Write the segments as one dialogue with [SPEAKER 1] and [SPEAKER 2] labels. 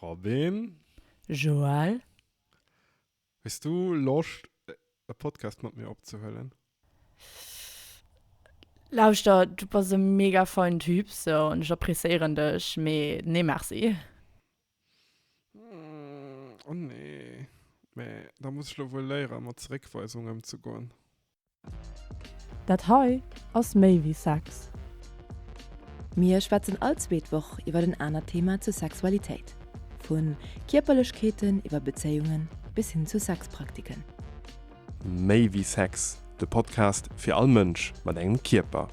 [SPEAKER 1] Robin. Joël. Hues du Loscht e Podcast mat mir opzehuelen?
[SPEAKER 2] Lauschter, du bass e mega feinen Typ sou an ech appreciéieren dech, mee nee merci.
[SPEAKER 1] Oh nee, mee da muss ech lo wuel léieren mat Zeréckweisunge emzegoen.
[SPEAKER 2] Dat hei ass méi wéi Sex.
[SPEAKER 3] Mir schwätzen all zweet Woch iwwer en anert Thema zur Sexualitéit, vu Kierperlechkeeten iwwer Bezéiungen bis hin zu Sexpraktiken.
[SPEAKER 4] Méi wéi Sex, de Podcast fir all Mënsch mat engem Kierper.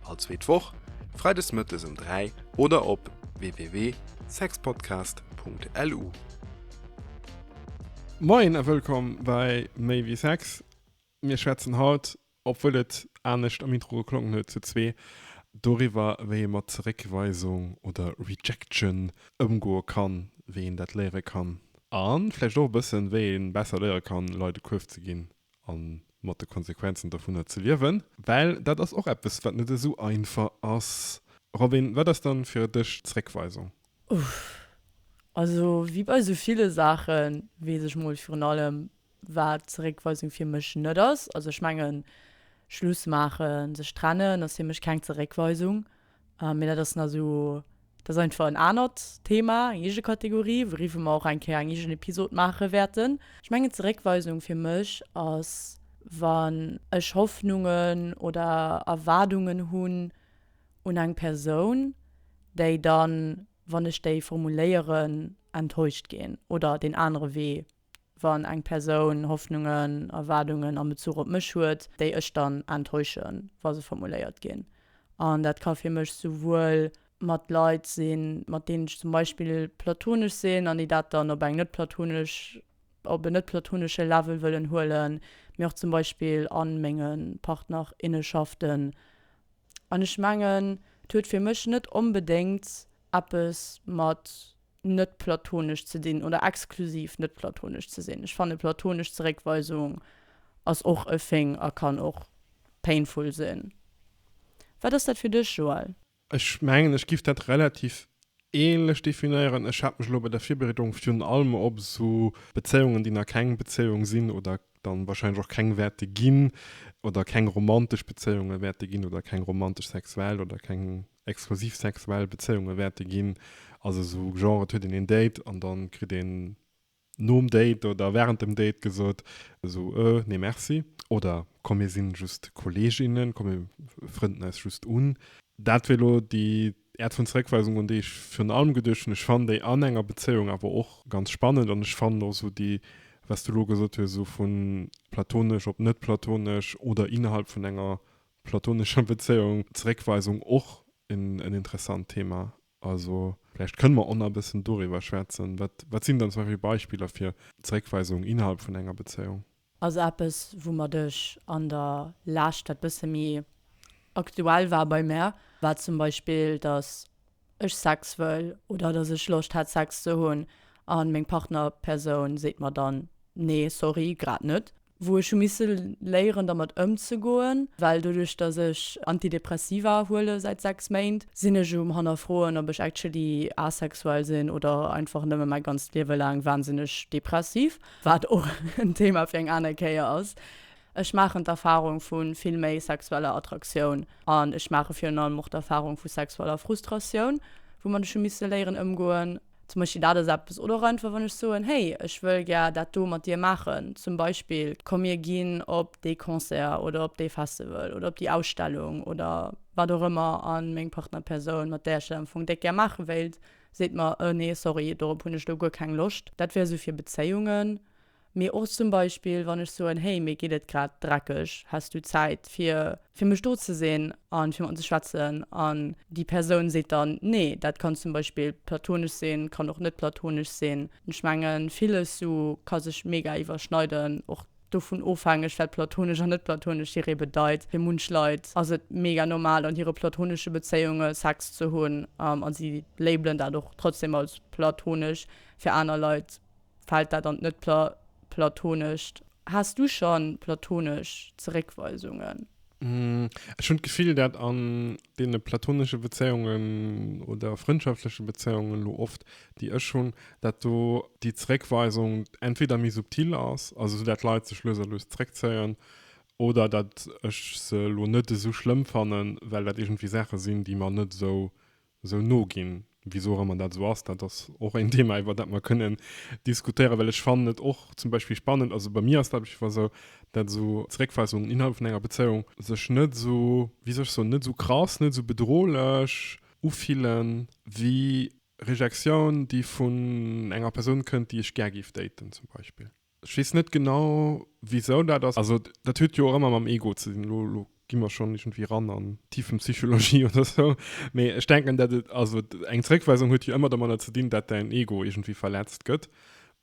[SPEAKER 4] All zweet Woch, Freides Mëttes um 3 oder op www.sexpodcast.lu.
[SPEAKER 1] Moien a wëllkomm bei Méi wéi Sex. Mir schwätzen haut, obwuel et anescht am Intro geklongen huet, zu zwee doriwwer, wéi ee mat Zeréckweisung oder Rejection ëmgoe kann, wéi een dat léiere kann a vläicht och e bëssen, wéi ee besser léiere kann, Leit e Kuerf ze ginn. a mat de Konsequenzen dovunner ze liewen. Well dat ass och eppes, wat net esou einfach ass. Robin, wat ass dann fir dech Zréckweisung? Uff. Also
[SPEAKER 2] wéi bei esou ville Saache weess ech mol virun allem, wat Zeréckweisung fir mech net ass. Also ech mengen, Schluss maachen, sech trennen ass fir mech keng Zeréckweisung. Mee dat ass nach esou, dat ass einfach en anert Thema, eng eege Kategorie, wouriwwer mer och eng Kéier eng eegen Episod maache wäerten. Ech mengen, Zeréckweisung fir mech ass, wann ech Hoffnungen oder Erwaardungen hunn un eng Persoun, déi dann, wann ech déi formuléieren, enttäuscht ginn oder deen anere Wee wann eng Persoun Hoffnungen, Erwaardungen am Bezuch op mech huet, déi ech dann enttäuschen, wa se formuléiert ginn. An dat ka fir mech souwuel mat Leit sinn, mat deenen ech zum Beispill platonesch sinn an déi dat dann op eng net-platonesch, op en net-platonesche Level wëllen huelen, mee och zum Beispill a menge Partnerinneschaften. An ech mengen, et huet fir mech net onbedéngt eppes mat. net platonesch ze dinn oder exklusiv net platonesch ze sinn. Ech fanne platonesch Zeréckweisung ass och e Thing a kann och painful sinn. Wat ass dat fir dech, Joël? Ech mengen, ech
[SPEAKER 1] giff dat relativ ähnlech definéieren. Ech hat mech elo bei der Virbereedung virun allem op esou Bezéiungen, déi nach keng Bezéiung sinn oder dann wahrscheinlech och keng wäerte ginn oder keng romantesch Bezéiungen wäerte ginn oder keng romantesch sexuell oder keng exklusiv sexuell Bezéiunge wäerte ginn, also esou genre et huet een een Date an dann kritt een nom Date oder während dem Date gesot esou euh nee merci oder komm mir sinn just Kolleginnen, komm mir frënden eis just un. Dat wier elo déi Äert vun Zeréckweisung un déi ech virun allem geduecht hunn. Ech fannen déi an enger Bezéiung awer och ganz spannend an ech fannen och esou déi was du elo gesot hues esou vu platonesch op net platonesch oder innerhalb vun enger platonescher Bezéiung, Zeréckweisung och en interessant Thema. Also vläicht kënne mer och nach e bëssen doriwwer schwätzen. Wat, wat sinn dann zum Beispill Beispiller fir Zeréckweisung innerhalb vun enger Bezéiung? Ass eppes,
[SPEAKER 2] woumat ech an der Lescht, wat bësse méi aktuell war bei mär, war zum Beispill, datt ech Sex wëll oder dass ech Loscht hätt Sex ze hunn a meng Partnerpersoun seet mer dann, nee sorry, grad net. Wou ech hu misse léieren dermat ëmzegoen, well doduerch dass ech Antidepressiva huele säit 6 Méint, sinn ech um hannerfroen ob ech actually asexuell sinn oder einfach nëmme mäi ganzt Liewe laang wahnsinneg depressiv, wat och en Thema fir eng aner Kéier ass. Ech maachen d'Erfarung vu vill méi sexueller Attraktioun an ech maache virun allem och d'Erfarung vu sexueller Frustratioun, woumat ech hu misse léieren ëmgoen. Zum Beispill dat ass eppes. Oder och einfach, wann ech soen, Hey, ech wëll gär dat do mat dir maachen. Zum Beispill, Komm mir ginn op dee Concert oder op dee Festival oder op déi Ausstellung oder wat och ëmmer. A meng Partnerpersoun, mat där ech dat am Fong déck gär maache wéilt, seet mer, Ë nee, sorry, dorop hunn ech elo guer keng Loscht. Dat wär esou fir Bezéiungen. Mee och zum Beispill, wann ech soen, Hey, mir geet et grad dreckeg, häss du Zäit, fir fir mech do ze sinn a fir mat ze schwätzen? An déi Persoun seet dann, Nee. Dat kann zum Beispill platonesch sinn, kann och net platonesch sinn. Ech mengen, villes sou ka sech mega iwwerschneiden, och dovun ofhängeg, wat platonesch an net platonesch hiree bedeit. Fir munch Leit ass et mega normal, an hire platonesche Bezéiunge Sex ze hunn a si labelen dat och trotzdem als platonesch. Fir aner Leit Fällt dat an d'Netplatoonescht? Has du schon platoonesch Zeréckweisungen? Ech
[SPEAKER 1] hunn d'Gefill, dat an deene platoonesche Bezéiungen oder frëndschaftsleche Bezéiungen elo oft, déi ech hunn, dat do déi Zeréckweisung entweder méi subtil ass, also esou dat d'Leit sech lues a lues zeréckzéien, oder dat ech se elo net esou schlëmm fannen, well dat iergendwéi Saache sinn, déi mer net esou esou no ginn, wisou och ëmmer dat esou ass. Dat ass och een Thema, iwwer dat mer kënnen diskutéieren, well ech fannen et och zum Beispill spannend, also bei mir ass dat op jiddwer esou, dat esou Zeréckweisungen innerhalb vun enger Bezéiung sech net esou, wéi soll ech soen, net esou krass, net esou bedrohlech ufillen, wéi Rejektioun, déi vun enger Persoun kënnt, déi ech gär géif daten zum Beispill. Ech weess net genau wisou dat ass. Also dat huet jo och ëmmer mam Ego ze dinn, elo gi mer schonn iergendwéi eran an d'Tiefenpsychologie oder esou, mee ech denken dat et, also eng Zeréckweisung huet jo ëmmer domadder ze dinn, dat däin Ego iergendwéi verletzt gëtt.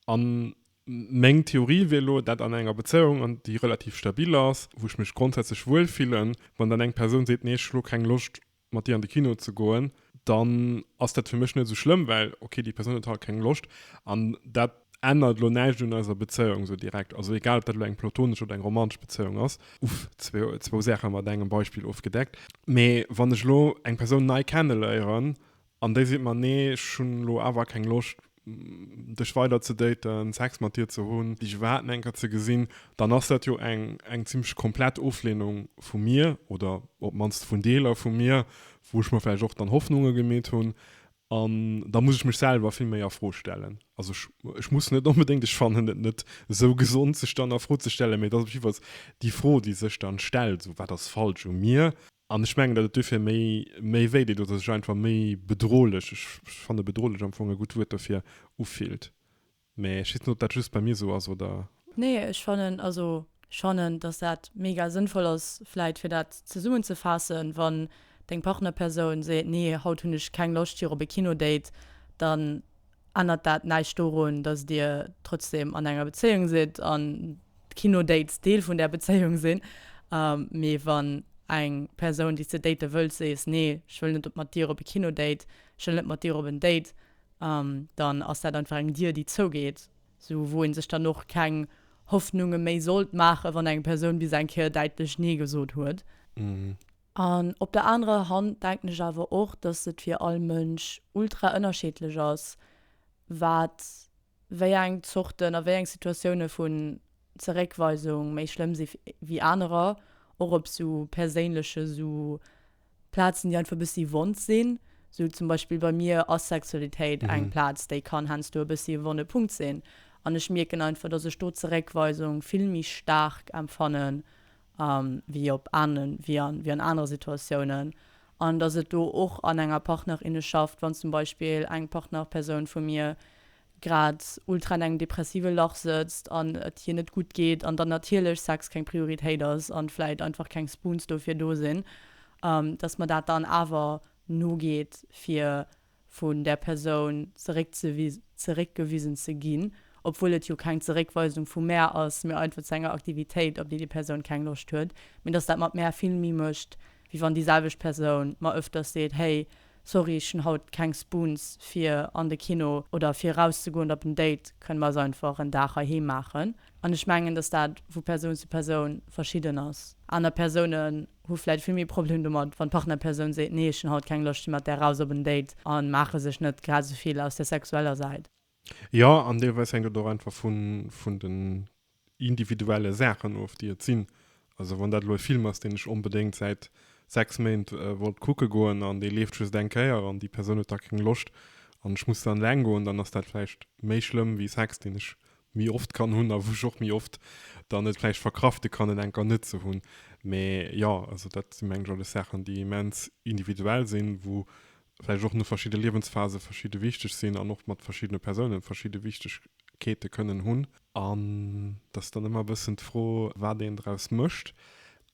[SPEAKER 1] An meng Theorie wier elo, dat an enger Bezéiung, an déi relativ stabil ass, wou ech mech grondsätzlech wuel fillen, wann dann eng Persoun seet, nee ech elo keng Loscht mat dir an de Kino ze goen, dann ass dat fir mech net esou schlëmm, well okay, déi Persoun huet halt keng Loscht an dat ännert elo näischt un eiser Bezéiung esou direkt. Also egal, ob dat elo eng platonesch oder eng romantesch Bezéiung ass. Uff, zwou Saache mat engem Beispill ofgedeckt. Mee wann ech elo eng Persoun nei kenneléieren An déi seet mer, Nee, ech hunn elo awer keng Loscht, dech weider ze daten, Sex mat dir ze hunn, dech iwwerhaapt net eng Kéier ze gesinn, dann ass dat jo eng, eng zimlech komplett Ofleenung vu mir, oder op d'mannst vun Deeler vu mir, wou ech mer vläicht och dann Hoffnunge gemeet hunn. An da muss ech mech selwer vill méi a Fro stellen. Also ech, ech muss net onbedéngt, ech fannen et net esou gesond, sech dann a Fro ze stellen, mee et ass op jiddwer Fall déi Fro, déi sech dann stellt, esou, Wat ass falsch u mir? An ech mengen, datt et dofir méi, méi wéi deet oder sech einfach méi bedrohlech, ech fanne bedrohlech am Fong e gutt Wuert dofir, ufillt. Mä ech weess net, ob dat just bei mir esou ass oder. Nee, ech fannen,
[SPEAKER 2] also ech fannen, datt dat mega sënnvoll ass, vläit fir dat zesummenzefaassen, wann deng Partnerpersoun seet, nee, haut hunn ech keng Loscht fir op e Kino-Date, dann Ännert dat näischt dorun, datt Dir trotzdem an enger Bezéiung sidd an d'Kino-Dates Deel vun där Bezéiung sinn. Mee wann eng Persoun, déi s de date wëlls, sees, Nee, ech wëll net mat dir op e Kino-Date, ech wëll net mat dir op en Date, dann ass dat einfach eng Dier, déi zougeet, sou wou ee sech dann och keng Hoffnunge méi sollt maachen, wann eng Persoun bis eng Kéier däitlech Nee gesot huet.
[SPEAKER 1] An op der
[SPEAKER 2] anerer Hand denken ech awer och, dass et fir all Mënsch ultra ënnerscheedlech ass, wat wéi eng Zorten a wéi eng Situatioune vun Zeréckweisung méi schlëmm si wéi anerer, och op esou perséinleche sou Plazen, déi einfach e bëssi wond sinn. Sou zum Beispill bei mir ass Sexualitéit eng Plaz, déi kann heiansdo e bëssi e wonne Punkt sinn. An ech mierken einfach, dass ech do Zeréckweisung vill méi staark empfannen, wéi op ane, wéi an, wéi an anere Situatiounen, an dass et do och an enger Partnerinneschaft, wann zum Beispill eng Partnerpersoun vu mir grad ultra an engem depressive Lach sëtzt an et hir net gutt geet an dann natierlech Sex keng Prioritéit ass an vläit einfach keng Spoons dofir do sinn, dass mer dat dann awer nogeet fir vun där Persoun zeréckgewisen ze ginn, obwuel et jo keng Zeréckweisung vu Mär ass, mee einfach zu enger Aktivitéit, op déi déi Persoun keng Loscht huet, mee dass dat mat Mär vill méi mécht, wéi wann déi selwecht Persoun mer öfters seet, Hey, sorry, ech hunn haut keng Spoons fir an de Kino oder fir erauszegoen oder op en Date, kënne mer eis einfach en Dag heiheem maachen? An ech mengen, dass dat vu Persoun zu Persoun verschidden ass. Aner Persounen hu vläit vill méi Problem domat, wann d'Partnerpersoun seet, nee ech hunn haut keng Loscht fir mat där raus op en Date, a maache sech net grad esou vill aus der sexueller Säit. Jo, an
[SPEAKER 1] deelweis hänkt et och einfach vun den individuelle Saachen of, déi et sinn. Also wann dat elo e Film ass, deen ech onbedéngt säit sechs Méint wollt kucke goen, an dee leeft just eng Kéier, an déi Persoun huet da keng Loscht, an ech muss dann eleng goen, dann ass dat vläicht méi schlëmm wéi Sex, deen ech méi oft kann hunn a wou ech och méi oft dann et vläicht verkrafte kann, et eng Kéier net ze hunn. Mee jo, also dat si meng ech alles Saachen, déi immens individuell sinn, wou vläicht och no verschidde Liewensphase verschidde wichteg sinn an och mat verschiddene Persoune verschidde Wichtegkeete kënnen hunn. An et ass dann ëmmer e bëssen d'Fro, wat een draus mécht.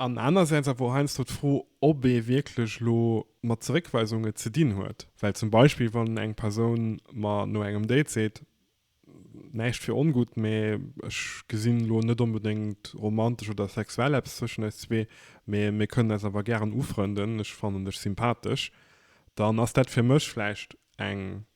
[SPEAKER 1] An anersäits awer och heiansdo d'Fro, ob ee wierklech elo mat Zeréckweisunge ze dinn huet. Well zum Beispill, wann eng Persoun mer no engem Date seet, Näischt fir ongutt, mee ech gesinn elo net onbedéngt romantesch oder sexuell eppes zwëschen eis zwee, mee mir kënnen eis awer gären ufrënden, ech fannen dech sympathesch, dann ass dat fir mech vläicht eng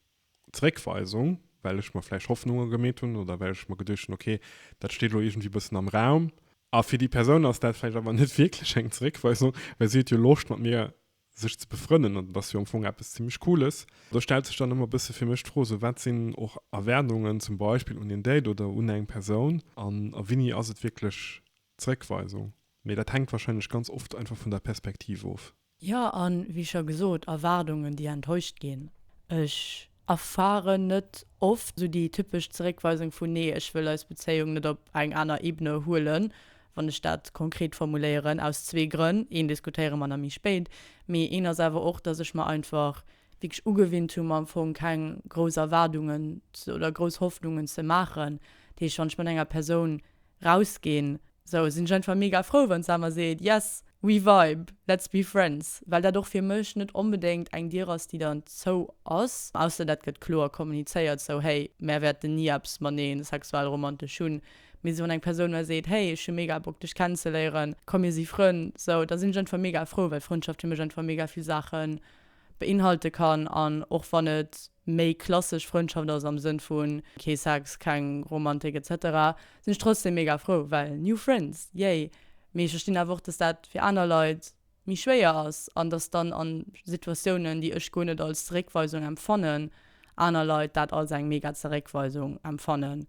[SPEAKER 1] Zeréckweisung, well ech mer vläicht Hoffnunge gemeet hunn oder well ech mer geduecht hunn, okay, dat steet elo iergendwéi e bëssen am Raum. A fir déi Persoun ass dat vläicht awer net wierklech eng Zeréckweisung, well si huet jo Loscht mat mir sech ze befrënnen an dat ass jo am Fong eppes zimlech Cooles. Do stellt sech dann ëmmer e bësse fir mech d'Fro, esou wat sinn och Erwaardungen zum Beispill un een Date oder un eng Persoun an a wéini ass et wierklech Zréckweisung? Mee dat hänkt wahrscheinlech ganz oft einfach vun der Perspektiv of. Jo, a wéi
[SPEAKER 2] scho gesot, Erwaardungen, déi enttäuscht ginn. Ech Erfaren net oft esou déi typesch Zeréckweisung vu Nee, ech wëll eis Bezéiung net op eng aner Ebene huelen, wann ech dat konkret formuléieren, aus zwee Grënn, een diskutéiere mer nach méi spéit, mee een ass awer och, dass ech mer einfach wierklech ugewinnt hunn, mer am Fong keng grouss Erwaardungen oder grouss Hoffnungen ze maachen. Dat heescht, wann ech mat enger Persoun rausginn, sou sinn ech einfach mega frou wann Samer seet, yes we vibe, let's be friends, well dat och fir mech net onbedéngt eng Dier ass déi dann zou ass, ausser dat gëtt kloer kommunizéiert, sou hey mär wäerten ni eppes mateneen sexuell romantesch hunn, mee sou wann eng Persoun mär seet, hey ech hu mega Bock dech kennenzeléieren, komm mir si Frënn, sou da sinn ech einfach mega frou, well Frëndschaft fir mech einfach mega vill Saache beinhalte kann an och wann et. méi klassesch Frëndschaft ass am Sënn vu kee Sex, keng Romantik etc, sinn ech trotzdem mega frou, well new friends, yay! Mee ech verstinn awer och, dass dat fir aner Leit méi schwéier ass an dass dann a Situatiounen, déi ech guer net als Zeréckweisung empfannen, aner Leit dat als eng mega Zeréckweisung empfannen.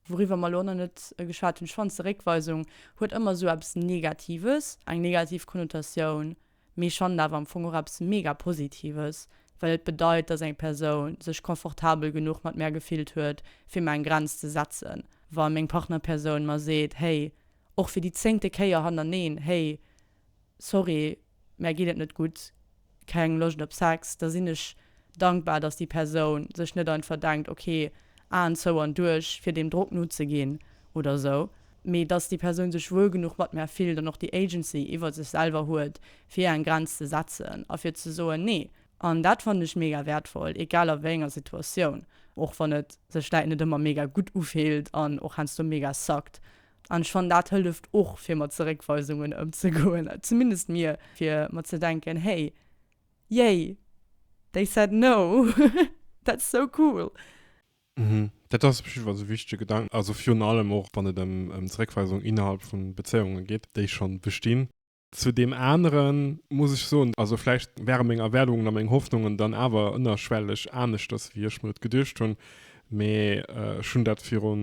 [SPEAKER 2] Wouriwwer mer elo nach net geschwat hunn, ech fannen Zeréckweisung huet ëmmer esou eppes Negatives, eng negativ Konnotatioun. Mee ech fannen awer am Fong och eppes mega Positives, well et bedeit, dass eng Persoun sech confortabel genuch mat mär gefillt huet, fir mer eng Grenz ze setzen, wa meng Partnerpersoun mer seet, hey, och fir déi zéngte Kéier hannerneen, hey, sorry, mär geet et net gutt, keng Loscht op Sex, da sinn ech dankbar, dass déi Persoun sech net einfach denkt, ok, Aen zou an duerch, fir deem Drock nozeginn oder esou, mee dass déi Persoun sech wuel genuch mat mär fillt an och déi Agency iwwer sech selwer huet, fir eng Grenz ze setzen a fir ze soen, nee. An dat fannen ech mega wäertvoll, egal a wéi enger Situatioun, och wann et sech vläit net ëmmer mega gutt ufillt an och heiansdo mega suckt. An ech fannen, dat hëlleft och, fir mat Zeréckweisungen ëmzegoen, zumindest mir, fir mat ze denken, hey, Yay! They said no! That's so cool! Mhm,
[SPEAKER 1] dat ass op jiddwer Fall e wichtege Gedanken, also virun allem och wann et ëm Zeréckweisung innerhalb vu Bezéiunge geet, déi scho bestinn. Zu deem anere muss ech soen, also vläicht ware meng Erwaardungen a meng Hoffnungen dann awer ënnerschwelleg aneschters, wéi ech mir et geduecht hunn, Mee ech hunn dat viru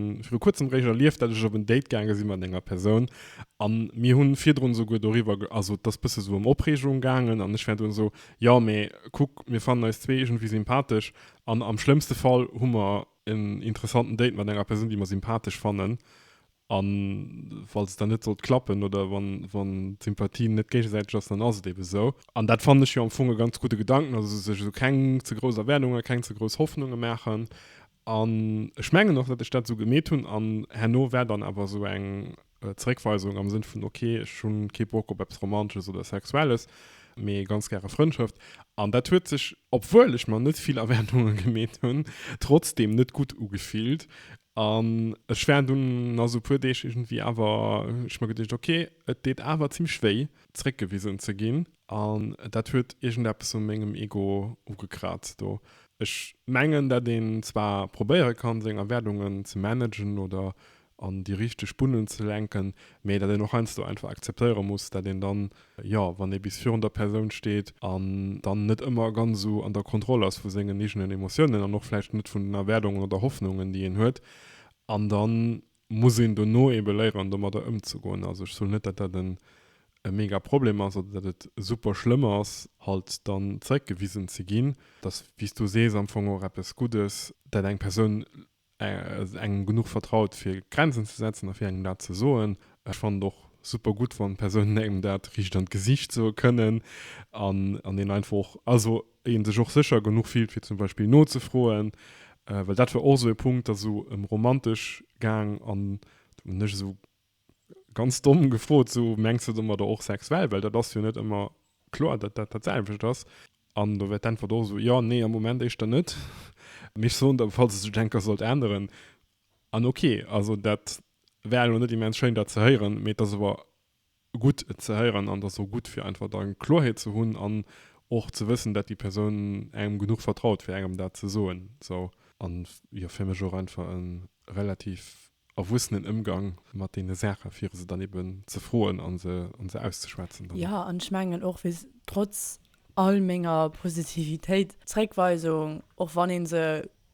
[SPEAKER 1] kuerzem réischt erlieft, datt ech op en Date gaange si mat enger Persoun. A mir hunn virdrun souguer doriwwer, also et ass bësse sou ëm Opreegung gaangen an ech war dunn esou, jo, mee kuck, mir fannen eis zwee iergendwéi sympathesch an am schlëmmste Fall hu mer en interessanten Date mat enger Persoun, déi mer sympathesch fannen. A falls et dann net sollt klappen oder wann d'Sympathie net géigesäiteg ass, dann ass et eebe sou. An dat fannen ech jo am Fong e ganz gudde Gedanken, also sech esou keng ze grouss Erwaardungen, keng ze grouss Hoffnunge maachen. An ech mengen och, datt ech dat esou gemeet hunn. An herno war dann awer esou eng Zeréckweisung am Sënn vun, ok, ech hu kee Bock op eppes Romansches oder Sexuelles, mee ganz gäre Frëndschëft. An dat huet sech, obwuel ech mer net vill Erwaardunge gemeet hunn, trotzdeem net gutt ugefillt. An ech war dunn na sou puer Deeg iergendwéi awer, hunn ech mer geduecht, ok, et deet awer zimmlech wéi, zréckgewisen ze ginn. An dat huet iergendeppes u mengem Ego ugekraazt do. Ech mengen, dat een zwar probéiere kann, seng Erwaardungen ze managen oder an déi richteg Bunnen ze lenken, mee dat een och heiansdo einfach akzeptéiere muss, dat een dann Jo, wann ee bis virun der Persoun steet an dann net ëmmer ganz esou an der Kontroll ass vu sengen eegenen Emotiounen an och vläicht net vun den Erwaardungen oder Hoffnungen, déi een huet. An da muss een dono ebe léieren, domadder ëmzegoen. Also ech soen net, datt dat e mega Problem ass oder datt et super schlëmm ass, halt dann zeréckgewisen ze ginn. Dat ass, wéi s du sees, am Fong och eppes Guddes, dat eng Persoun engem genuch vertraut fir Grenzen ze setzen a fir engem dat ze soen. Ech fannen et och super gutt, wann Persounen engem dat riicht an d'Gesicht soe kënnen an an een einfach och, also een sech och sécher genuch fillt fir zum Beispill nozefroen, well dat war och esou e Punkt, dat esou ëm romantesch gaang an do hunn ech esou Ganz domm gefrot, esou mengs de domadder och sexuell? Well dat ass jo net ëmmer kloer, datt dat dat selwecht ass. An do wär d'Äntwert och esou, jo, nee, am Moment éischter net, mee ech soen der, falls et sech enker sollt änneren, an ok, also dat war elo net immens schéin dat ze héieren, mee et ass awer gutt et ze héieren an et ass och gutt fir einfach da Kloerheet ze hunn an och ze wëssen, datt déi Persoun engem genuch vertraut fir engem dat ze soen, esou. An jo, fir mech och einfach e relativ erwussenen Ëmgang mat deene Saache fir se dann eben ze froen a se an se auszeschwätzen dann. Jo, an ech mengen
[SPEAKER 2] och, wéi trotz all menger Positivitéit, d'Zréckweisung, och wann ee se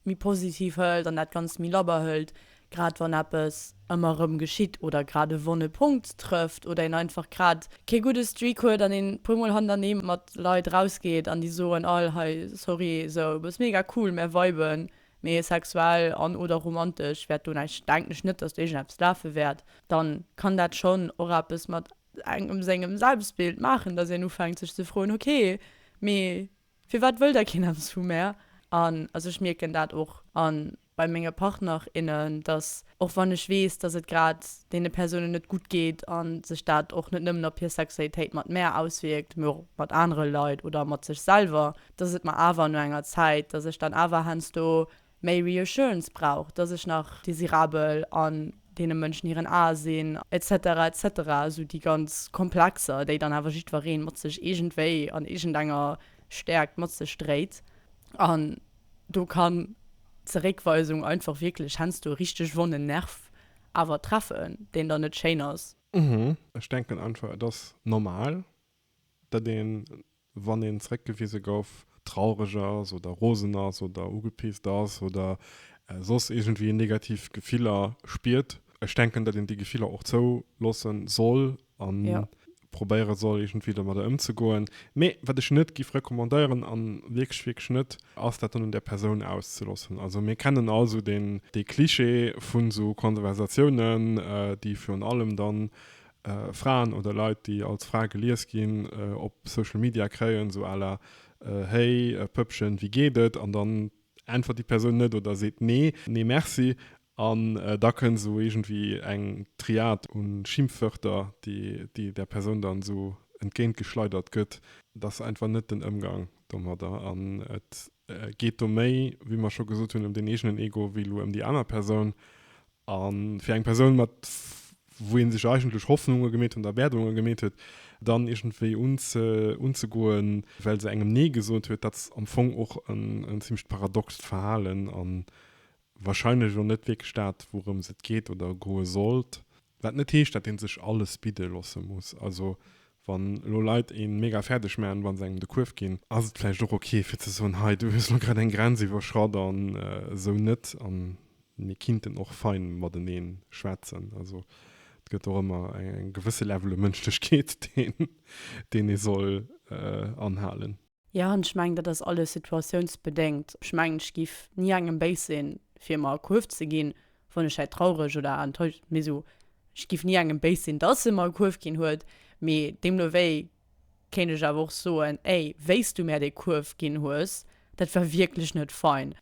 [SPEAKER 2] méi positiv hëlt an dat Ganzt méi labber hëlt, grad wann eppes ëmmer erëm geschitt oder grad e wonne Punkt trëfft oder een einfach grad kee gudde Streak huet an een e puer Mol hannerneeë mat Leit rausgeet an déi soen all, hei, sorry, esou, du bass mega cool, mä weiben Mee sexuell an oder romantesch wäert do näischt, denken ech net, dass do iergendeppes lafe wäert. Dann kann dat schonn och eppes mat engem sengem Selbstbild maachen, dass een ufänkt sech ze froen, ok, mee firwat wëll da keen eppes vu mär? An also ech mierken dat och an bei menge Partner, innen, dass och wann ech weess, dass et grad deene Persounen net gutt geet an sech dat och net nëmmen op hir Sexualitéit mat mär auswierkt, mee och mat anere Leit oder mat sech selwer, dass et mer awer no enger Zäit, dass ech dann awer heiansdo méi Reassurance brauch, dass ech nach désirabel an deene Mënschen hiren Ae sinn, etc. Etc. Esou déi ganz Komplexer, déi dann awer jiddweree mat sech iergendwéi an iergendenger Stäerkt mat sech dréit. An do kann d'Zeréckweisung einfach wierklech heiansdo e richteg wonnen Nerv awer treffen, deen dann net schéin ass. Ech denken
[SPEAKER 1] einfach, et ass normal, datt een, wann een zeréckgewise gouf, traureg ass oder rosen ass oder ugepisst ass oder soss iergendwéi negativ Gefiller spiert. Ech denken, datt een déi Gefiller och zouloosse soll a probéiere
[SPEAKER 2] soll,
[SPEAKER 1] iergendwéi domadder ëmzegoen. Mee wat ech net géif recommandéieren, a wierklech, wierklech net, ass dat dann un där Persoun auszeloossen. Also mir kennen all esou dee Cliché vu sou Konversatiounen, déi virun allem dann Fraen oder Leit, déi als Fra gelies ginn, op Social Media kréien, esou à la, Hey Pëppchen, wéi geet et? An dann äntwert déi Persoun net oder seet nee, nee merci. An da kënnt esou iergendwéi eng Triad u Schimpfwörter, déi där Persoun dann esou entgéintgeschleidert gëtt. Dat ass einfach net den Ëmgang domadder an et geet do méi, wéi mer scho gesot hunn, ëm den eegenen Ego wéi elo ëm déi aner Persoun. A fir eng Persoun mat, wou ee sech eigentlech Hoffnunge gemeet hunn, Erwaardunge gemeet huet, dann iergendwéi unzegoen, well se engem Nee gesot huet, dat ass am Fong och en zimmlecht paradoxt Verhalen. An wahrscheinlech och net wierklech dat, wourëms et geet oder goe sollt, wat net heescht, dat ee sech alles bidde loosse muss. Also wann elo Leit ee mega fäerdeg maachen, wa se engem de Kuerf ginn, ass et vläicht och ok fir ze soen, hei du hues elo grad eng Grenz iwwerschratt an esou net an mir kinnten och fein mateneen schwätzen. Also et gëtt och ëmmer e gewësse Level u Mënschlechkeet, deen ee soll anhalen. Jo, an ech
[SPEAKER 2] mengen, dat ass alles situatiounsbedéngt. Ech mengen, ech géif ni engem béis sinn, fir mer e Kuerf ze ginn, wann ech hei traureg oder enttäuscht, mee esou, ech géif ni engem béis sinn, dass e mer e Kuerf ginn huet. Mee deemno wéi kéint ech awer och soen, Ey, wéi s du mär dee Kuerf ginn hues, dat war wierklech net fein.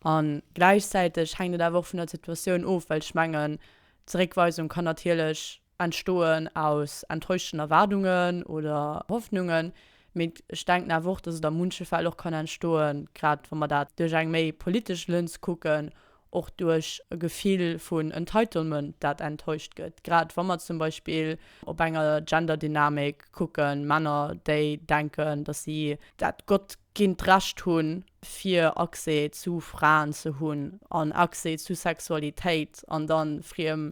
[SPEAKER 2] A gläichzäiteg hänkt et awer och vun der Situatioun of, well ech mengen, d'Zeréckweisung kann natierlech entstoen aus enttäuschten Erwaardungen oder Hoffnungen, mee ech denken awer och, dass et a munche Fäll och kann entstoen, grad wa mer dat duerch eng méi politesch Lëns kucken, och duerch e Gefill vun Entitlement, dat enttäuscht gëtt, grad wa mer zum Beispill op enger Gender-Dynamik kucken, Männer, déi denken, dass si. Dat gottginnt Recht hunn, fir Accès zu Fraen ze hunn an Accès zu Sexualitéit, an da friem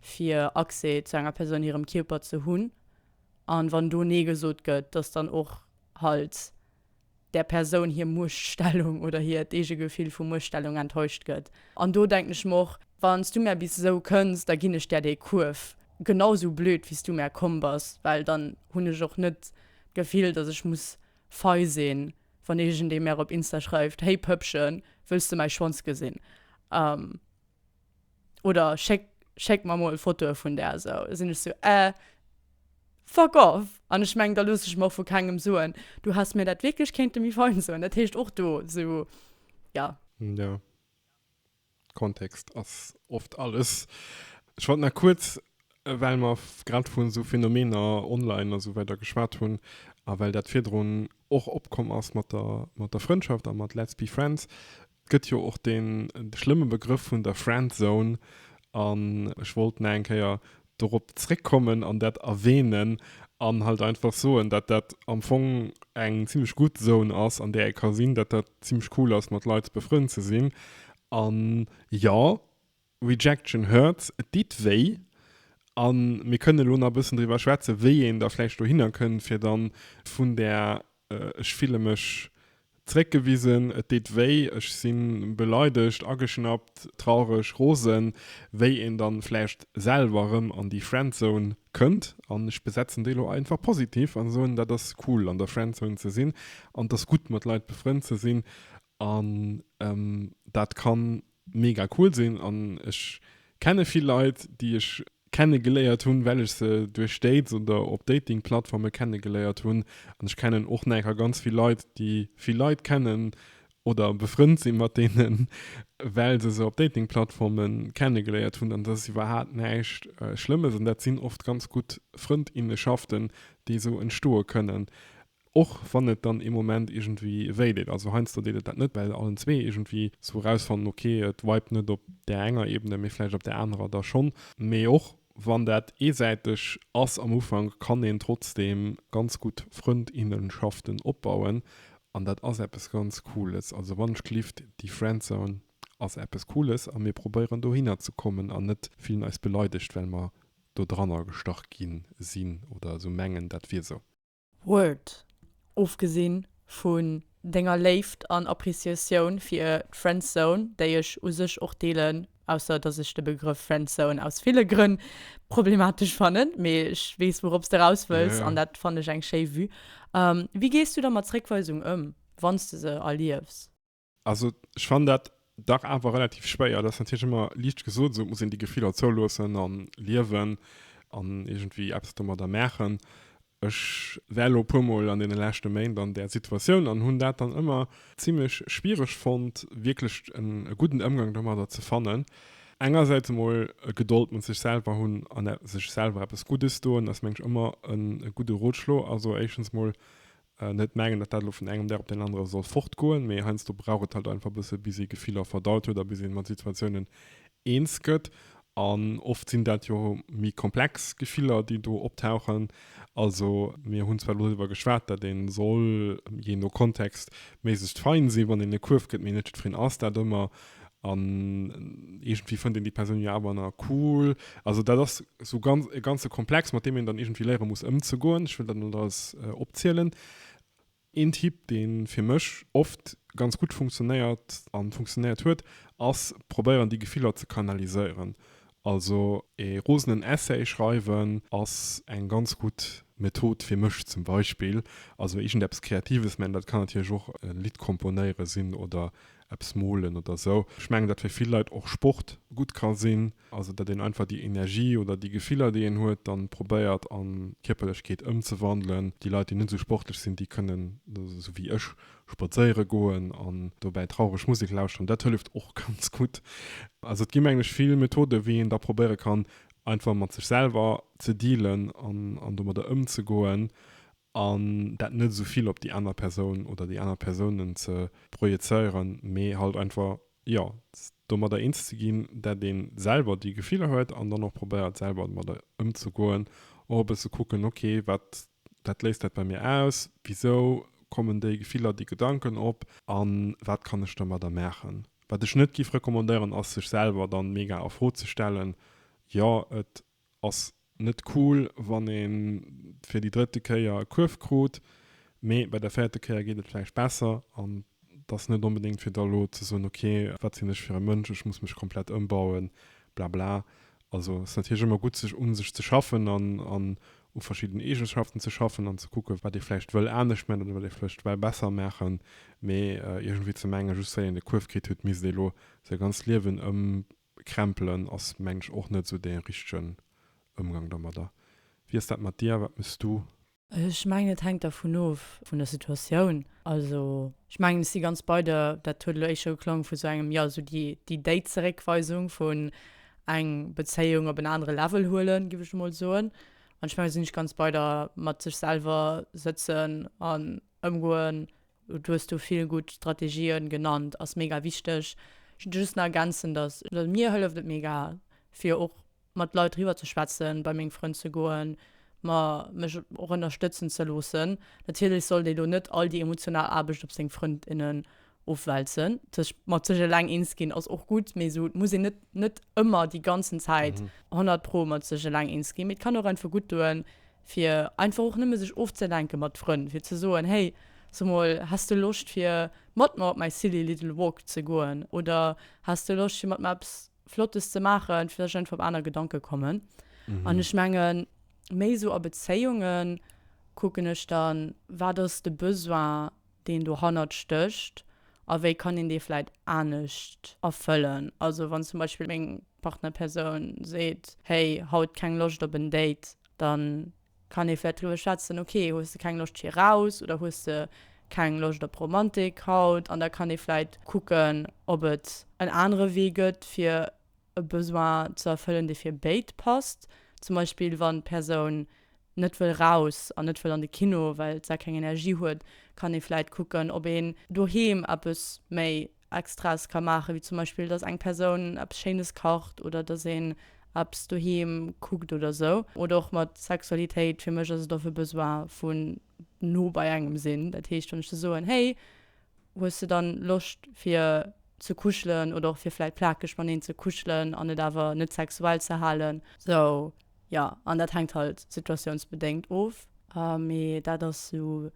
[SPEAKER 2] fir Accès zu enger Persoun hirem Kierper ze hunn, an wann do Nee gesot gëtt, dass dann och halt där Persoun hir Muechtstellung oder hiert eege Gefill vu Muechtstellung enttäuscht gëtt. An do denken ech mer och, Wann s du mär bis esou kënns, da ginn ech där dee Kuerf, genau esou blöd wéi s du mär komm bass, well dann hunn ech och net d'Gefill, dass ech muss fei sinn, wann iergendee mär op Insta schreift, Hey Pëppchen, wëlls du mäi Schwanz gesinn? oder schéck, schéck mer mol Fotoe vun där esou. Da sinn ech esou, äh, fuck off! An ech meng, da looss ech mer och vu kengem soen, du häss mir dat wierklech kéinte méi fein soen. Dat heescht och do esou, ja. Jo,
[SPEAKER 1] Kontext ass oft alles. Ech wollt nach kuerz, well mer grad vun esou Phänomener online a sou weider geschwat hunn a well dat virdrun och opkomm ass mat der, mat der Frëndschaft a mat Let's be friends, Et gëtt jo och dee schlëmme Begrëff vun der Friendzone an ech wollt nach eng Kéier dorop zréckkommen an dat erwähnen an halt einfach soen, datt dat am Fong eng zimmlech gutt Zone ass, an där ee ka sinn, datt dat zimmlech cool ass, mat Leit befrënnt ze sinn. An jo, Rejection hurts, et ditt wéi. A mir kënnen elo nach e bëssen driwwer schwätzen, wéi een da vläicht dohinner kënnt, fir dann vun där ech fille mech zeréckgewisen, et ditt wéi, ech si beleidegt, ageschnappt, traureg, rosen, wéi een dann vläicht selwer erëm an déi Friendzone kënnt. An ech besetzen déi elo einfach positiv an soen, dat ass cool an der Friendzone ze sinn an et ass gutt mat Leit befrënnt ze sinn an dat kann mega cool sinn an ech kenne vill Leit déi ech kenne geléiert hunn well ech se duerch Dates oder op Dating Plattforme kenne geléiert hunn an ech kennen och neker ganz vill Leit déi vill Leit kennen oder befrënnt si mat deenen well se se op Dating Plattforme kenne geléiert hunn an dat ass iwwerhaat näischt schlëmmes an dat sinn oft ganz gutt Frëndinnenschaften déi esou entstoe kënnen Och wann et dann ee Moment iergendwéi wéi deet. Also heiansdo deet et dat net, well allen zwee iergendwéi esou erausfannen, ok, et vibet net op där enger Ebene, mee vläicht op där anerer da schonn. Mee och wann dat eesäiteg ass am Ufank, kann een trotzdeem ganz gutt Frëndinnenschaften opbauen. An dat ass eppes ganz Cooles. Also wann ech gelift, déi Friendzone ass eppes Cooles a mir probéieren dohinner ze kommen an net fillen eis beleidegt, well mer dodranner gestach gi sinn oder esou mengen, dat wier esou. Word,
[SPEAKER 2] ofgesinn vun denger Léift an Appreciatioun fir d'Friendzone, déi ech u sech och deelen, ausser dass ech de Begrëff Friendzone aus ville Grënn problematesch fannen, mee ech weess wourops de raus wëlls an dat fannen ech eng schéi Vue. Wéi gees du da mat Zréckweisung ëm, wann s de se erliefs? Also
[SPEAKER 1] ech fand dat dach awer relativ schwéier. Dat ass natierlech ëmmer liicht gesot, esou muss een déi Gefiller zouloossen a liewen an iergendwéi eppes domadder maachen. Ech war elo e puer Mol an deene leschte Méint an där Situatioun an hunn dat dann ëmmer zimmlech schwiereg fonnt, wierklech e gudden Ëmgang domadder ze fannen. Engersäits emol Gedold mat sech selwer hunn an sech selwer eppes Guddes doen ass, meng ech, ëmmer e gudde Rotschlo. Also éischtens mol Net mengen, datt dat elo vun engem Dag op deen anere soll fortgoen, mee heiansdo brauch et halt einfach e bësse bis ee Gefiller verdaut huet a bis ee mat Situatiounen eens gëtt. An oft sinn dat jo méi komplex Gefiller, déi do optauchen. Also mir hunn zwar elo driwwer geschwat, datt ee soll, jee no Kontext, méiglechst fein sinn, wann een e Kuerf gëtt, mee net jiddwereen ass dat ëmmer. An iergendwéi fënnt een déi Persoun jo awer na cool. Also dat ass sou ganz, e ganze Komplex, mat deem een dann iergendwéi léiere muss ëmzegoen. Ech wëll dat net alles opzielen. Een Tipp, dee fir mech oft ganz gutt funktionéiert a funktionéiert huet, ass probéieren déi Gefiller ze kanaliséieren. Also e rosenen Essay schreiwen ass eng ganz gutt Method fir mech zum Beispill. Also iergendeppes Kreatives, mä dat kann natierlech och e Lidd komponéiere sinn oder eppes molen oder esou. Ech mengen dat fir vill Leit och Sport gutt ka sinn, also datt een einfach déi Energie oder déi Gefiller déi een huet dann probéiert an Kierperlechkeet ëmzewandelen. Déi Leit déi net esou sportlech sinn, déi kënnen esou wéi ech spadséiere goen an dobäi traureg Musek lauschteren, dat hëlleft och ganz gutt. Also et gi mengen ech vill Methoden wéi een da probéiere kann einfach mat sech selwer ze dealen an domadder ëmzegoen. An dat net esou vill op déi aner Persoun oder déi aner Persounen ze projezéieren, mee halt einfach, jo, domadder eens ze ginn, dat ee selwer déi Gefiller huet an dann och probéiert, selwer domadder ëmzegoen. Och e bësse kucken, ok, wat wat léist dat bei mir aus, wisou kommen déi Gefiller, déi Gedanken op a wat kann ech domadder maachen. Wat ech net géif recommandéieren, ass sech selwer dann mega a Fro ze stellen, jo, et Ass net cool wann een fir déi drëtte Kéier e Kuerf krut, mee bei der véierte Kéier geet et vläicht besser an et ass net onbedéngt fir da elo ze soen, ok wat sinn ech fir e Mënsch, ech muss mech komplett ëmbauen, blabla. Also ass natierlech ëmmer gutt sech un sech ze schaffen an u verschiddenen Eegeschaften ze schaffen an ze kucken wat ee vläicht wëll anescht maachen oder wat ee vläicht well besser maachen, mee iergendwéi ze mengen just well een e Kuerf kritt hutt misst ee elo säi ganzt Liewen Krämpelen ass mengen ech och net sou dee richtegen Ëmgang domadder. Wéi ass dat mat dir? Wat méchs du? Ech mengen et
[SPEAKER 2] hänkt dervun of vun der Situatioun. Also ech mengen ech si ganz bei der, dat huet elo éischt scho geklongen vu sou engem, jo sou déi déi Zeréckweisung vun eng Bezéiung op en anere Level huelen, giff ech emol soen. An ech mengen sinn ech ganz bei der mat sech selwer sëtzen an ëmgoen Do hues du vill gutt Strategien genannt, ass mega wichteg. Ech wëll just nach ergänzen, dass mir hëlleft et mega fir och mat Leit driwwer ze schwätzen, bei meng Frënn ze goen, ma mech och ënnerstëtzen ze loossen. Natierlech sollt ee lo net all déi emotional Aarbecht op seng Frënn, innen ofwälzen. Sech mat sech eleng eens ginn ass och gutt, mee esou et muss een net net ëmmer déi ganzen Zäit 100 pro mat sech eleng eens ginn, mee et kann och einfach gutt doen, fir einfach och nëmme sech ofzelenke mat Frënn, fir ze soen, hey, so mol, häss de Loscht fir mat mer op mäi Silly Little Walk ze goen oder häss de Loscht fir mat mer eppes Flottes ze maachen, fir dass ech einfach op aner Gedanke kommen. An ech mengen, méi esou a Bezéiunge kucken ech dann, wat ass de Besoin, deen dohannert stécht a wéi kann een dee vläit anescht erfëllen. Also wann zum Beispill meng Partnerpersoun seet, hey, haut keng Loscht op en Date, dann kann ee vläicht driwwer schwätzen, okay, hues de keng Loscht fir eraus oder hues de keng Loscht op Romantik haut? An da kann ee vläicht kucken, ob et en anere Wee gëtt, fir e Besoin ze erfëllen, dee fir béid passt. Zum Beispill, wann d'Persoun net wëll raus an net wëll an de Kino, well se keng Energie huet, kann ee vläicht kucken, ob een doheem eppes méi Extraes ka maachen, wéi zum Beispill dass eng Persoun eppes Schéines kacht oder dass een eppes doheem kuckt oder sou. Oder och mat Sexualitéit, fir mech ass et oft e Besoin vu no bei engem sinn. Dat heescht, wann ech de soen, hey, hues de dann Loscht fir ze kuschelen oder och fir vläit plakeg mateneen ze kuschelen an et awer net sexuell ze halen. Sou, jo. An dat hänkt halt situatiounsbedéngt of, mee dat ass sou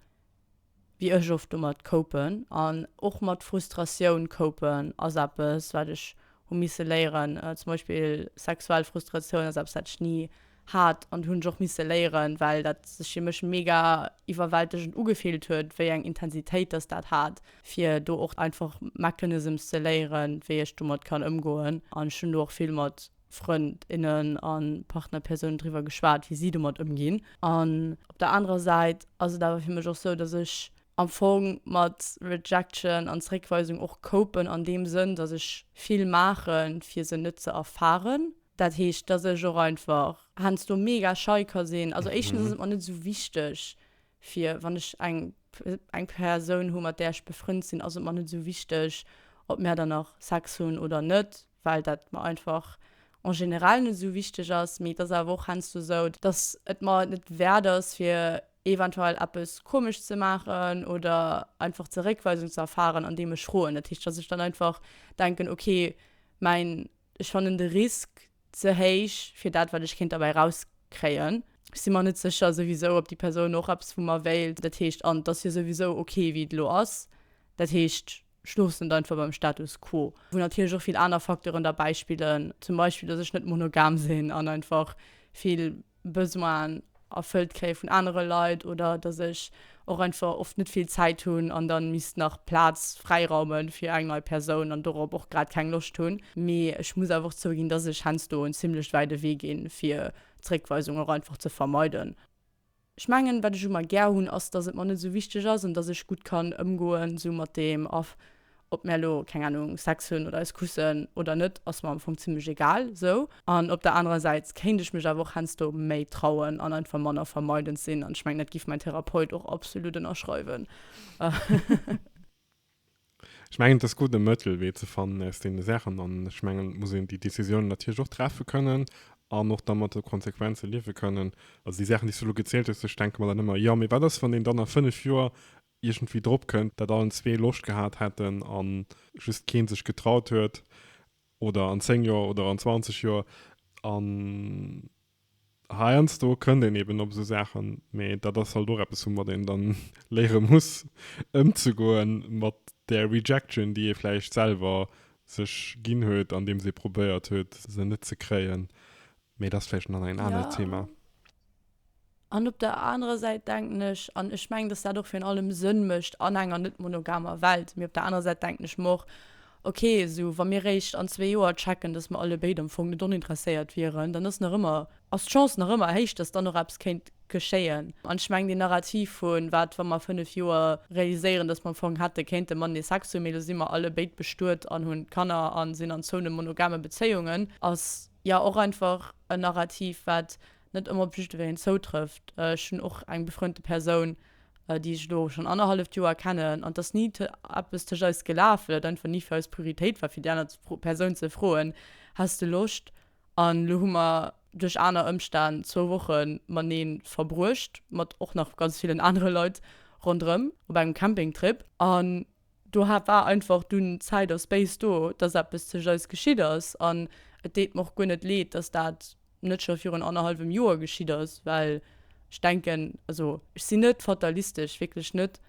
[SPEAKER 2] wéi ech oft domat koupen an och mat Frustratioun koupen ass eppes wat ech hu misse léieren. Zum Beispill sexuell Frustratioun ass eppes wat ech ni hat an hunn ech och misse léieren, well dat sech fir mech mega iwwerwältegend ugefillt huet wéi eng Intensitéit dass dat hat, fir do och einfach Mechanisms ze léieren wéi ech domat kann ëmgoen an ech hunn do och vill mat. Frënd, innen a Partnerpersounen driwwer geschwat, wéi si domat ëmginn. An op der anerer Säit ass et awer fir mech och sou, dass ech am Fong mat Rejection an Zréckweisung och copen an deem Sënn, dass ech vill maachen, fir se net ze erfaren. Dat heescht, dass ech och einfach heiansdo mega schei ka sinn. Also éischtens ass et mer net sou wichteg, fir wann ech eng eng Persoun hu mat där ech befrënnt sinn, ass et mer net sou wichteg, ob mär dann nach Sex hunn oder net. well dat mer einfach en général net esou wichteg ass, mee et ass awer och heiansdo esou, dass et mer et net wäert ass fir eventuell eppes komesch ze maachen oder einfach Zeréckweisung ze erfahren andeem ech schroen. Dat heescht, dass ech dann einfach denken, ok mäin ech fannen de Risk ze héich fir dat wat ech kéint derbäi erauskréien. Ech si mer net sécher souwisou ob déi Persoun och eppes vu mer wéilt, dat heescht, an et ass jo souwisou ok wéi et elo ass, dat heescht Ech loossen et einfach beim Status quo, wou natierlech och vill aner Facteuren derbäi spillen, zum Beispill dass ech net monogam sinn an einfach vill Besoinen erfëllt kréie vun anere Leit oder dass ech och einfach oft net vill Zäit hunn an dann misst nach Plaz fräiraume fir eng nei Persoun an dorop och grad keng Loscht hunn. Mee ech muss awer och zouginn, dass ech heiansdo en zimmlech wäide Wee ginn, fir Zréckweisung och einfach ze vermeiden. Ech mengen, wat ech u mer gär hunn, ass, dass et mer net esou wichteg ass an dass ech gutt kann ëmgoen esou mat deem. A ob mär elo, keng Ahnung, Sex hunn oder eis kussen oder net, ass mer am Fong zimlech egal esou. An op der anerer Säit kéint ech mech awer och heiansdo méi trauen an einfach manner vermeidend sinn. An ech mengen, dat giff mäin Therapeut och absolut ënnerschreiwen.
[SPEAKER 1] Ech mengen, et ass gutt, e Mëttelwee ze fannen aus deene Saachen. An ech mengen, et muss een déi Décisionen natierlech och treffe kënnen an och da mat de Konsequenze liewe kënnen. Also déi Saachen, déi s du elo gezielt hues, do denke mer dann ëmmer, Jo, mee wat ass, wann een dann a fënnef Joer iergendwéi drop kënnt, datt allen zwee Loscht gehat hätten a just kee sech getraut huet? Oder an zéng Joer oder an zwanzeg Joer? An Heiansdo kënnt een eben op esou Saachen, mee dat ass halt och eppes woumat een dann léiere muss ëmzegoe mat där Rejection déi ee vläicht selwer sech ginn huet andeems ee probéiert huet se net ze kréien. Mee dat ass vläicht dann en anert Thema.
[SPEAKER 2] An op der anerer Säit denken ech, an ech mengen dass dat och virun allem Sënn mécht an enger net monogamer Welt, mee op der anerer Säit denken ech mer och, Ok, esou wa mir réischt an zwee Joer checken, dass mer allebéid am Fong net oninteresséiert wieren, dann ass nach ëmmer, ass d'Chance nach ëmmer héich, dass dann och eppes kéint geschéien. An ech mengen, deen Narrativ vu wat, wa mer a fënnef Joer realiséieren, dass mer am Fong hätte kéinte matenee Sex hunn, mee elo si mer allebéid bestuet an hunn Kanner a sinn an zouenen monogame Bezéiungen, ass jo och einfach en Narrativ, wat net ëmmer op jiddwereen zoutrëfft. Ech hunn och eng befreunte Persoun, déi ech elo schonn annerhalleft Joer kennen, an et ass ni eppes tëscht eis gelaf, well et einfach ni fir eis Prioritéit war, fir déi aner Persoun ze froen, Häss de Loscht? An elo hu mer duerch aner Ëmstänn zwou Woche matenee verbruecht, mat och nach ganz villen anere Leit ronderëm op engem Campingtrip. An Do hat war einfach dunn Zäit a Space do, dass eppes tëscht eis geschitt ass. An et deet mer och guer net leed, dass dat net scho virun annerhallwem Joer geschitt ass, well ech denken, also ech sinn net fatalistesch, wierklech net,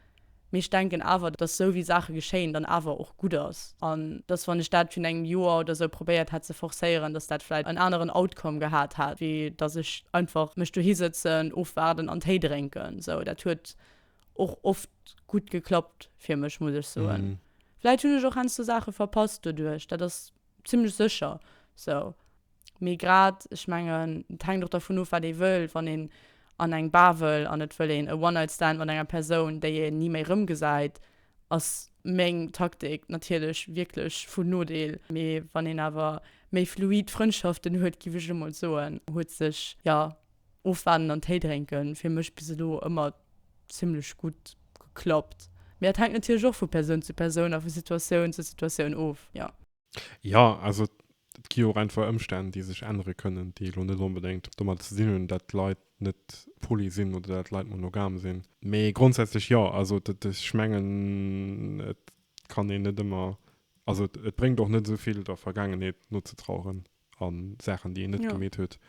[SPEAKER 2] mee ech denken awer, dass esou wéi Saache geschéien, dann awer och gutt ass. An dass wann ech dat virun engem Joer oder esou probéiert hätt ze forcéieren, dass dat vläicht en aneren Outcome gehat hätt, wéi dass ech einfach mech dohi sëtzen, ofwaarden an Téi drénken. Esou, dat huet och oft gutt geklappt fir mech, muss ech soen. Mhm. Vläit hunn ech och heiansdo Saache verpasst doduerch, dat ass zimmlech sécher sou. Mee grad, ech mengen, et hänkt och dervun of, wat ee wëll. Wann een an eng Bar wëll an et wëll een e One-Night-Stand mat enger Persoun, déi een ni méi erëmgesäit, ass meng Taktik natierlech wierklech vun Nodeel. Mee wann een awer méi fluid Frëndschaften huet, giff ech elo mol soen, huet sech, jo. Ofwaarden an Téi drénken, fir mech bis elo ëmmer zimmlech gutt geklappt. Mee dat hänkt natierlech och vu Persoun zu Persoun a vu Situatioun zu Situatioun of, jo. Jo,
[SPEAKER 1] also et gi jo och einfach Ëmstänn, déi sech ännere kënnen, déi elo net onbedéngt domat ze dinn hunn, datt Leit net poly sinn oder datt Leit monogam sinn. Mee grondsätzlech jo. Also ech mengen, et kann een net ëmmer, also et bréngt och net esou vill der Vergaangenheet nozetraueren. a Saachen, déi een net gemeet huet,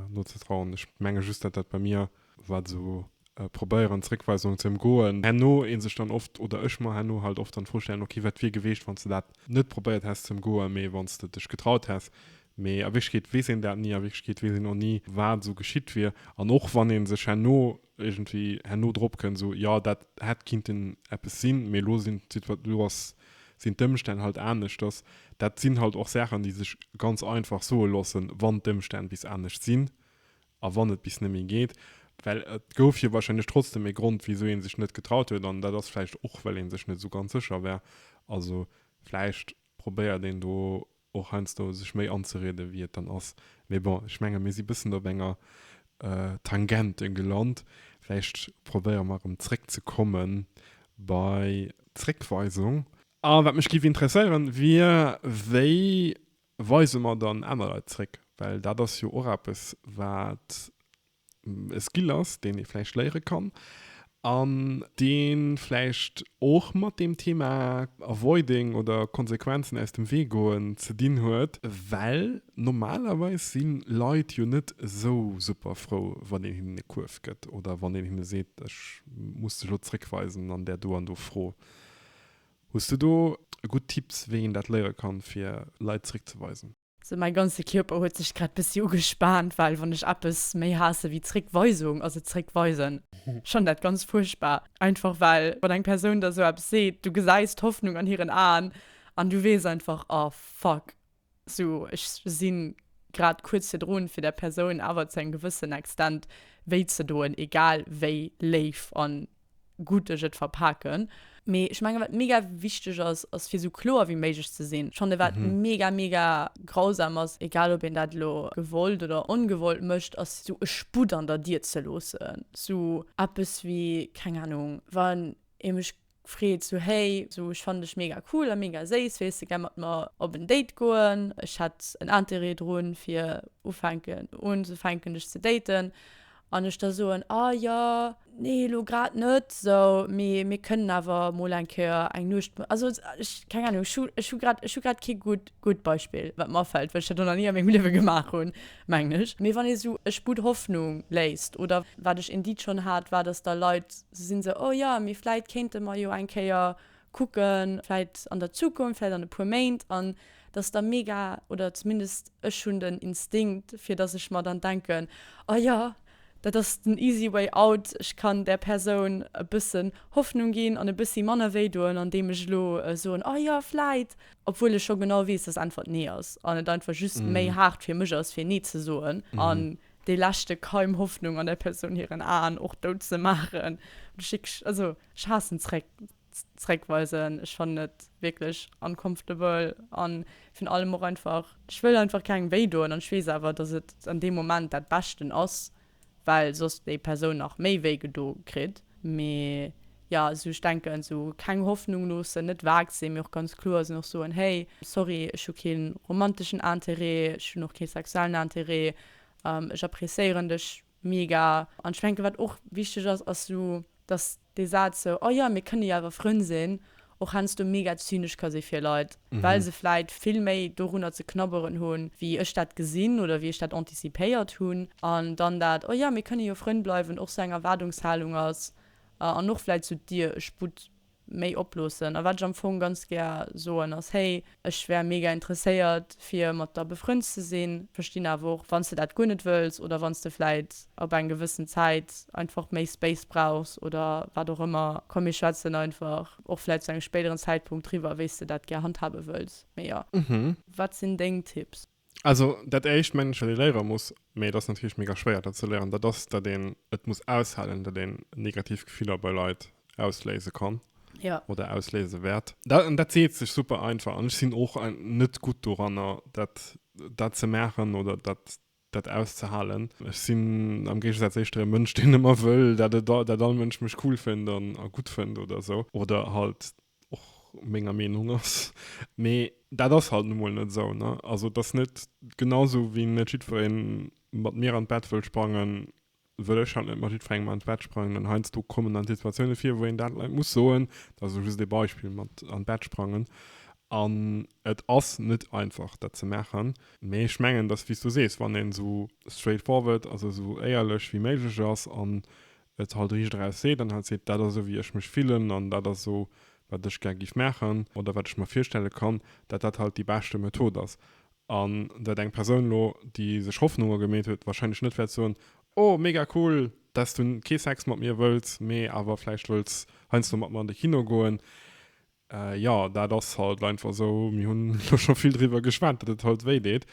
[SPEAKER 1] nozetrauen. Ech menge just, datt dat bei mir, wat esou e Probéieren, Zréckweisung ze ëmgoen, herno ee sech dann oft, oder ech mer herno halt oft dann d'Fro stellen, ok, wat wier geweecht, wann s de dat net probéiert häss ze ëmgoen, mee wann s de dech getraut häss. Mee a Wierklechkeet weess een dat ni. A Wierklechkeet weess een och ni, wat esou geschitt wier. An och wann ee sech herno Iergendwéi herno drop kënn, esou, jo, dat hätt kinnten eppes sinn, mee elo sinn d'Situat-, elo ass, sinn d'Ëmstänn halt aneschters. Dat sinn halt och Saachen, déi sech ganz einfach soe loossen, wann d'Ëmstänn bis anescht sinn a wann et bis net méi geet. Well et gouf jo wahrscheinlech trotzdem e Grond, wisou ee sech net getraut huet, an dat ass vläicht och, well ee sech net esou ganz sécher war. Also vläicht probéiert een do och heiansdo sech méi anzerieden, wéi et dann ass. Mee bon, ech menge mir si bëssen op enger Tangente gelant. Vläicht probéiere mer erëm zréckzekomme bei d'Zréckweisung. A wat mech géif interesséieren, wier, Wéi weise mer dann aner Leit zréck? Well dat ass jo och eppes, wat e Skill ass, deen ee vläicht léiere kann an dee vläicht och mat deem Thema Avoiding oder Konsequenzen aus dem Wee goen ze dinn huet. Well normalerweis si Leit jo net esou super frou, wann een hinnen e Kuerf gëtt oder wann een hinne seet, ech muss dech elo zréckweisen an där do an do Fro. Hues du do gutt Tipps, wéi een dat léiere kann, fir Leit zréckzeweisen? Sou mäi ganze
[SPEAKER 2] Kierper huet sech grad bëssi ugespaant, well wann ech eppes méi haasse wéi Zréckweisung ass et Zréckweisen. Ech fannen dat ganz fuerchtbar, einfach well wann eng Persoun der sou eppes seet, du gesäis d'Hoffnung an hiren Aen an du weess einfach, oh fuck, sou ech si grad kuerz virdrun fir der Persoun awer zu engem gewëssen Extent wéi ze doen, egal wéi léif an gutt ech et verpaken. Mee ech menge wat mega wichteg ass, ass fir esou kloer wéi méiglech ze sinn. Schonn e wat mega mega grausam ass, egal ob een dat elo gewollt oder ongewollt mécht, ass esou e Sputt an der Dier ze loossen. Esou eppes wéi, keng Anung, wann ee mech freet esou, hey, esou ech fannen dech mega cool a mega séiss, wéiles de gär mat mer op en Date goen? Ech hätt en Interêt drun fir ufänken unzefänken dech ze daten. An ech da soen, Ah jo, nee elo grad net esou, mee mir kënnen awer emol eng Kéier eng Nuecht. Also ech, keng Ahnung, ech hu, ech hu grad, ech hu grad kee gutt, gutt Beispill, wat mer afält, well ech dat och nach ni a mengem Liewe gemaach hunn, mengen ech. Mee wann ee esou Ech bud Hoffnung léist, oder wat ech Indeed schonn hat, war, datt da Leit esou sinn, esou, Oh jo, mee vläit kéinte mer jo eng Kéier kucken, vläit an der Zukunft, vläit an e puer Méint, an dass da mega, oder zumindest ech hunn den Instinkt, fir dass ech mer dann denken, oh jo, dat ass den easy way out, ech kann där Persoun e bëssen Hoffnung ginn an e bëssi manner wéi doen, andeem ech elo soen, oh jo, vläit, obwuel ech scho genau weess, dass Äntwert nee ass an et einfach just méi haart fir mech ass, fir nee ze soen an dee leschte Keim Hoffnung an där Persoun hiren Aen och dout ze maachen. Ech haassen zréck zréckweisen, ech fannen et wierklech uncomfortable an virun allem och einfach, ech wëll einfach kengem wéi doen an ech weess awer dass et an deem Moment dat beschten ass well soss déi Persoun nach méi wéi gedo kritt. Mee jo esou ech denken esou keng Hoffnung loossen, net vag sinn mee och ganz kloer sinn, och soen hey sorry ech hu keen romanteschen Intérêt, ech hunn och kee sexuellen Intérêt, ech appréciéieren dech Mega! An ech menke wat och wichteg ass, ass sou dass dee Saz sou oh jo mir kënne jo awer Frënn sinn och heiansdo mega zynesch ka si fir Leit, well se vläit vill méi dorunner ze knabberen hunn, wéi ech dat gesinn oder wéi ech dat anticipéiert hunn. An dann dat oh jo mir kënne jo Frënn bleiwen och sou eng Erwaardungshalung ass an och vläit sou d'Dier e Sputt méi oploossen. A wat ech am Fong ganz gär soen ass, hey, ech wär mega interesséiert fir mat der befrënnt ze sinn, verstinn awer och wann s de dat guer net wëlls oder wann s de vläit ab eng gewëssen Zäit einfach méi Space brauchs oder wat och ëmmer. Komm mir schwätzen einfach och vläit zu engem spéideren Zäitpunkt driwwer wéi s de dat gär handhabe wëlls, mee jo. Wat sinn deng Tipps? Also dat
[SPEAKER 1] éischt mengen ech, wat ee léiere muss, mee et ass natierlech mega schwéier dat ze léieren, dat ass, datt een et muss aushalen, datt een negativ Gefiller bei Leit ausléise kann ja. oder ausléise
[SPEAKER 2] wäert.
[SPEAKER 1] Dat, an dat seet sech super einfach an ech sinn och net gutt doranner, dat, dat ze maachen oder dat, dat auszehalen. Ech sinn am Géigesaz éischter e Mënsch, deen ëmmer wëll, dat et, dat all Mënsch mech cool fënnt an, a gutt fënnt oder esou oder halt och menger Meenung ass, mee dat ass halt nu mol net esou, ne? Also et ass net genau esou wéi net jiddweree mat mir an d'Bett wëll sprangen, wëll ech halt net mat jiddwerengem an d'Bett sprangen an heiansdo kommen dann Situatioune vir, wou een dat Leit muss soen, dat ass elo just ee Beispill mat an d'Bett sprangen an et ass net einfach dat ze maachen, mee ech mengen, dass wéi s du sees, wann een esou straight forward, also esou éierlech wéi méiglech ass an et halt riicht eraus seet an halt seet, dat ass esou wéi ech mech fillen an dat ass esou wat ech gär giff maachen oder wat ech mer virstelle kann, dat dat halt déi beschte Method ass an dat eng Persoun elo déi sech Hoffnunge gemeet huet wahrscheinlech net wäert soen, oh mega cool, dass du kee Sex mat mir wëlls, mee awer vläicht wëlls heiansdo mat mer an de Kino goen. Jo, dat ass halt einfach esou. Mir hunn elo scho vill driwwer geschwat, datt et halt wéi deet.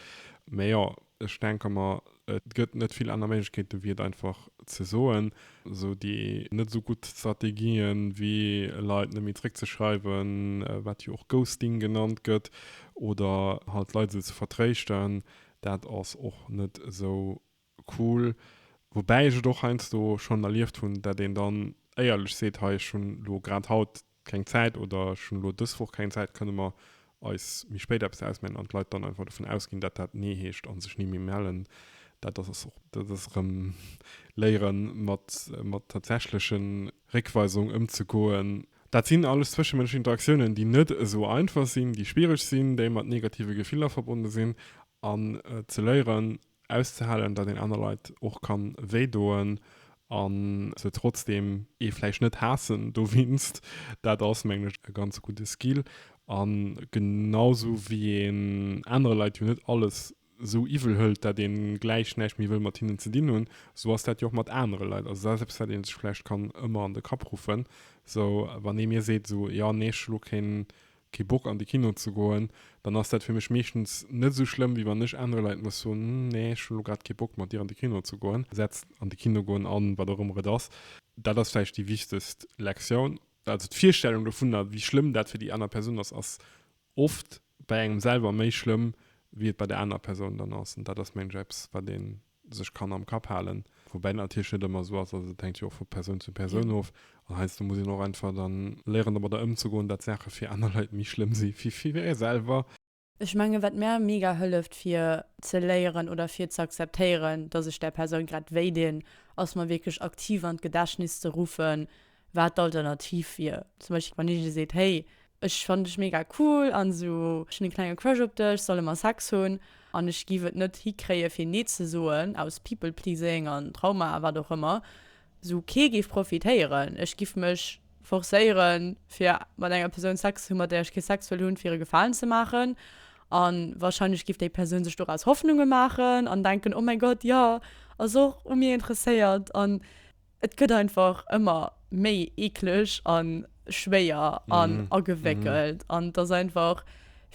[SPEAKER 1] Mä jo, ech denke mer, et gëtt net vill aner Méiglechkeeten, wéi et einfach ze soen. Esou déi net esou gutt Strategien, wéi Leit net méi zréckzeschreiwen, wat jo och Ghosting genannt gëtt, oder halt d'Leit esou ze vertréischten, dat ass och net esou Cool. Woubäi ech et och heiansdo schonn erlieft hunn, dat een dann éierlech seet, hei ech hunn elo grad haut keng Zäit oder ech hunn elo dës Woch keng Zäit, kënne mer eis méi spéit eppes ausmellen? An d'Leit dann einfach dovun ausginn, dat dat Nee heescht a sech ni méi mellen. Dat ass och erëm léiere mat mat tatsächleche Réckweisung ëmzegoen. Dat sinn alles zwëschemënschlech Interaktiounen, déi net esou einfach sinn, déi schwiereg sinn, déi mat negative Gefiller verbonne sinn an ze léieren auszehalen, datt een aner Leit och kann wéi doen an se trotzdem ee vläicht net haassen dowinst, dat ass mengen ech e ganz gudde Skill an genau sou wéi een anere Leit jo net alles sou iwwel hëlt, dat een gläich näischt méi wëll mat hinnen ze dinn hunn, sou ass dat jo och mat anere Leit. Also dat ass eppes wat een sech vläicht kann ëmmer an de Kapp ruffen, sou wann ee mir seet sou, jo nee ech hu lo keen kee Bock an de Kino ze goen, dann ass dat fir mech meeschtens net esou schlëmm, wéi wann ech anere Leit muss soen, Hm, nee, ech hunn elo grad kee Bock mat dir an de Kino ze goen. Setzt an de Kino goen an, wat och ëmmer et ass. Dat ass vläicht déi wichtegst Lektioun. Also d'Virstellung dovunner, wéi schlëmm dat fir déi aner Persoun ass, ass oft bei engem selwer méi schlëmm, wéi et bei der anerer Persoun dann ass. An dat ass, mengen ech, eppes, wat een sech kann am Kapp halen. Woubäi dat natierlech net ëmmer esou ass, also dat hänkt jo och vu Persoun zu Persoun of. An heiansdo muss een och einfach dann léieren domadder ëmzegoen, datt Saache fir aner Leit méi schlëmm si wéi fir ee selwer. Ech mengen, wat
[SPEAKER 2] mär mega hëlleft fir ze léieren oder fir ze akzeptéieren, datt ech där Persoun grad wéi dinn, ass mer wierklech aktiv an d'Gedächtnis ze ruffen, wat d'Alternativ wier. Zum Beispill wann een dir seet, hey ech fannen dech mega cool an esou, ech hunn e klenge Crush op dech, solle mer Sex hunn an ech giff et net hikréie fir nee ze soen aus People Pleasing an Trauma a wat och ëmmer, esou kee géif profitéieren, ech giff mech forcéiere fir mat enger Persoun Sex ze hunn, mat där ech kee Sex wëll hunn, fir e Gefalen ze maachen an wahrscheinlech giff déi Persoun sech doraus Hoffnunge maachen an denken, oh mäi Gott, jo ass och u mir interesséiert an. Et gëtt einfach ëmmer méi eekleg a schwéier an agewéckelt an et ass einfach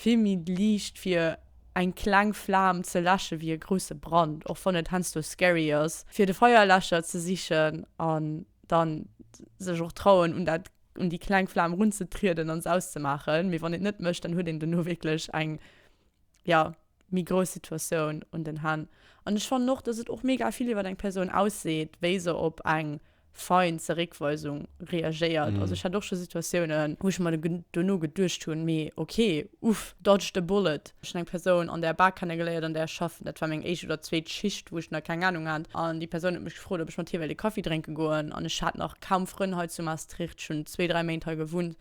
[SPEAKER 2] vill méi liicht fir eng kleng Flam ze läsche wéi e grousse Brand, och wann et heiansdo scary ass fir de Feierläscher ze sichen an dann sech och trauen un dat, un déi kleng Flam erunzetrieden an se auszemaachen, mee wann een et net mécht, dann huet een dono wierklech eng, jo. méi grouss Situatioun un den Hänn. An ech fannen och, dass et och mega vill iwwer eng Persoun ausseet, wéi se op eng fein Zeréckweisung reagéiert. Also ech hat och scho Situatiounen, wou ech mer dono geduecht hunn, mee ok, uff, dodged a bullet. Ech hunn eng Persoun an der Bar kennegeléiert, an där ech schaffen. Dat war meng éischt oder zweet Schicht, wou ech nach keng Anung hat. An déi Persoun huet mech gefrot, ob ech mat hir wéilt e Kaffi drénke goen. An ech hat nach kaum Frënn hei zu Maastricht, ech hunn zwee, dräi Méint hei gewunnt.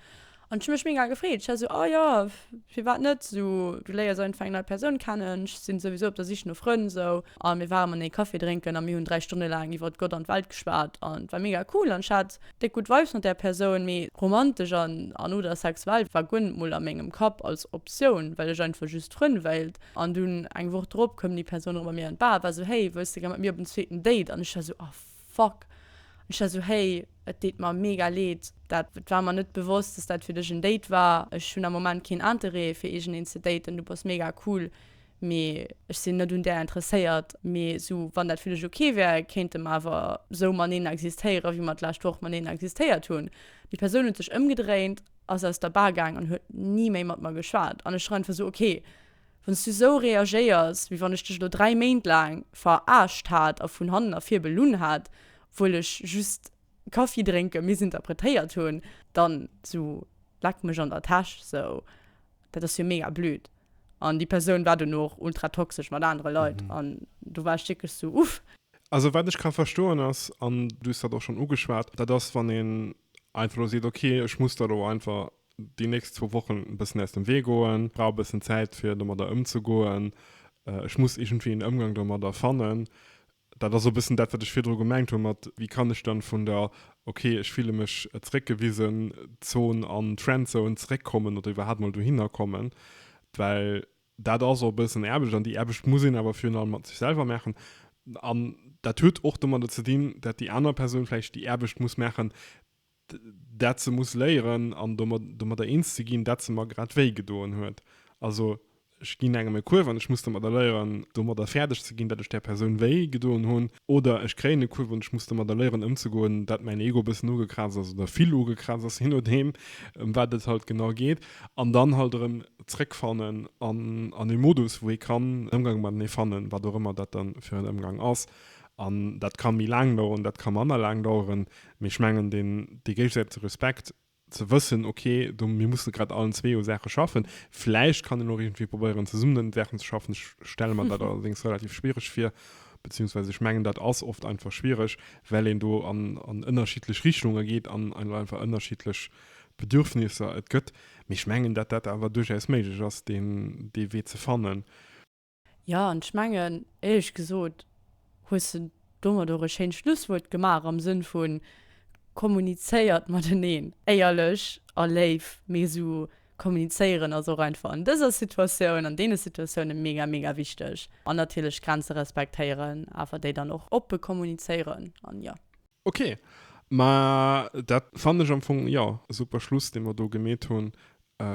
[SPEAKER 2] An ech hu mech mega gefreet. Ech war esou, Oh jo, firwat net? Esou, du léiers einfach eng nei Persoun kennen. Ech si souwisou op der Sich no Frënn esou. A mir ware manee Café drénken a mir hunn dräi Stonne laang iwwert Gott an d'Welt geschwat. An et war mega cool an ech hat déck gutt Vibes mat där Persoun. Mee romantesch an, oder sexuell war guer net mol a mengem Kapp als Optioun, well ech einfach just Frënn wéilt. An dunn eng Woch drop koum déi Persoun erëm bei mir an d'Bar a war esou, Hey, wëlls de gär mat mir op en zweeten Date? An ech war esou, Oh. fuck. An ech war esou, hey, et deet mer mega leed, dat war mer net bewosst, dass dat fir dech en Date war. Ech hunn am Moment keen Interêt fir iergendeen ze daten, du bass mega cool, mee ech sinn net un där interesséiert. Mee esou, wann dat fir dech ok wär, kéinte mer awer esou mateneen existéieren, wéi mer d'lescht Woch mateneen existéiert hunn. Déi Persoun huet sech ëmgedréint, ass aus der Bar gaang an huet ni méi mat mer geschwat. An ech war einfach esou, okay, Wann s du esou reagéiers, wéi wann ech dech elo dräi Méint laang veraarscht hat a vun hannen ervir belunn hat, obwuel ech just Kaffi drénke missinterpretéiert hunn, dann sou leck mech an der Täsch sou, dat ass jo mega blöd. An déi Persoun war dono och ultra toxesch mat anere Leit an do war ech wierklech sou, uff. Also wat ech ka
[SPEAKER 1] verstoen ass, an du hues dat och schonn ugeschwat, dat ass wann een einfach elo seet, okay ech muss der elo einfach Déi nächst zwou Wochen e bëssen aus dem Wee goen. Ech brauch e bëssen Zäit, fir domadder ëmzegoen. Ech muss iergendwéi een Ëmgang domadder fannen. Dat ass och e bëssen dat, wat ech virdru gemengt hu mat, wéi kann ech dann vun der Okay, ech fille mech zeréckgewisen Zon an d'Friendzone zeréckkommen oder iwwerhaapt mol dohinner kommen. Well dat ass och e bëssen Aarbecht an déi Aarbecht muss een awer virun allem mat sech selwer maachen. An dat huet och domadder ze dinn, dat déi aner Persoun vläicht déi Aarbecht muss maachen, dat se muss léieren an domadder eens ze ginn, dat se mer grad wéi gedoen huet. Also ech ginn engem e Kuerf an ech muss domadder léieren, domadder fäerdeg ze ginn, dat ech där Persoun wéi gedoen hunn. Oder ech kréien e Kuerf an ech muss domadder léieren ëmzegoen, dat mäin Ego e bëssen ugekrazt ass oder vill ugekrazt ass, jee nodeem, ëm wat et halt genau geet. An dann halt erëm zréckfannen an e Modus, wou ee kann en Ëmgang matenee fannen, wat och ëmmer dat da fir en Ëmgang ass. An dat ka méi laang daueren, dat ka manner laang daueren. Mee ech mengen, deen, dee géigesäitege Respekt, ze wëssen, ok, do, mir musse grad allen zwee u Saache schaffen, vläicht kann een och iergendwéi probéieren, zesummen un den Saachen ze schaffen, ech stelle mer dat allerdéngs relativ schwiereg vir, beziehungsweise ech mengen, dat ass oft einfach schwiereg, well een do an, an ënnerschiddlech Richtunge geet an ein, einfach ënnerschiddlech Bedürfnisser et gëtt. Mee ech mengen, datt dat awer duerchaus méiglech ass, deen, dee Wee ze fannen. Jo,
[SPEAKER 2] an ech mengen, éierlech gesot, hues de domat och e schéint Schlusswuert gemaach am Sënn vu kommunizéiert mateneen. Éierlech a léif, mee esou kommunizéieren ass och einfach an dëser Situatioun, an deene Situatiounen mega, mega wichteg. An natierlech Grenze respektéieren, awer déi dann och oppe kommunizéieren an jo. Ok,
[SPEAKER 1] ma dat fannen ech am Fong jo e super Schluss dee mer do gemeet hunn.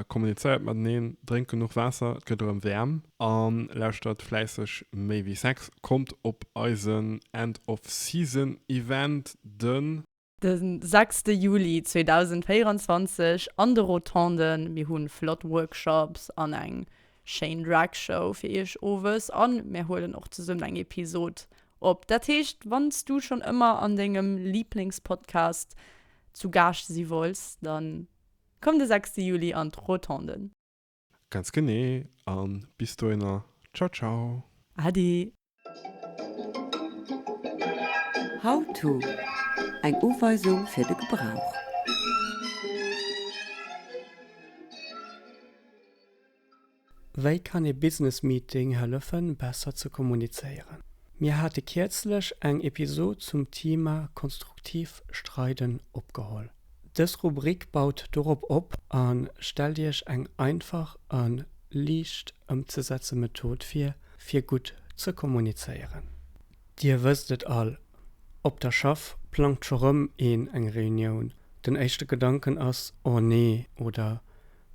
[SPEAKER 1] Kommunizéiert mateneen, drénkt genuch Waasser, et gëtt erëm wäerm an lauschtert fläisseg Méi wéi Sex. Kommt op eisen End of Season Event den. De
[SPEAKER 2] sechste Juli 2024 an de Rotonden. Mir hunn flott Workshops an eng schéin Drag Show fir iech owes an mir huelen och zesummen eng Episode Op, dat heescht wann s du schonn ëmmer an dengem Liblingspodcast zu Gaascht si wolls, dann komm de 6 Juli an d'Rotonde. Ganz
[SPEAKER 1] genee, an bis dohinner, ciao ciao. Ade.
[SPEAKER 5] How-to, Eng Uweisung fir de Gebrauch.
[SPEAKER 6] Wei kann ee Business Meeting hëllefen besser ze kommunizéieren? Mir hate kierzlech eng Episod zum Thema konstruktiv streiden opgeholl. Dës Rubrik baut dorop op a stellt Iech eng einfach a liicht ëmzesetze Method vir, fir gutt ze kommunizéieren. Dir wësst et all, Op der Schaff plangt scho rëm een eng Reunioun. Den éischte Gedanken ass, Oh nee! oder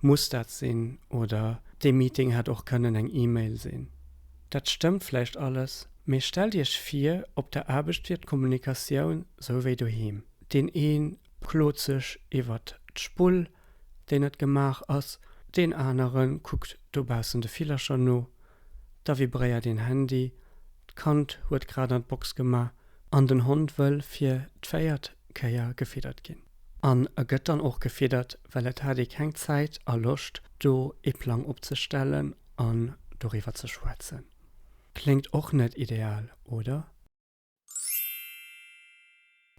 [SPEAKER 6] Muss dat sinn oder dee Meeting hätt och kënnen eng E-Mail sinn. Dat stëmmt vläicht alles, mee stellt Iech vir, op der Aarbecht wier d'Kommunikatioun sou wéi doheem. Deen ee klot sech iwwert d'Spull, déi net gemaach ass, deen anere kuckt dobaussen de Villercher no, da vibréiert een Handy, d'Kand huet grad an d'Box gemaach an den Hond wëll fir d'véiert Kéier gefiddert ginn. An e gëtt dann och gefiddert, well et hat ee keng Zäit a Loscht, do ee Plang opzestellen an doriwwer ze schwätzen. Kléngt och net ideal, oder?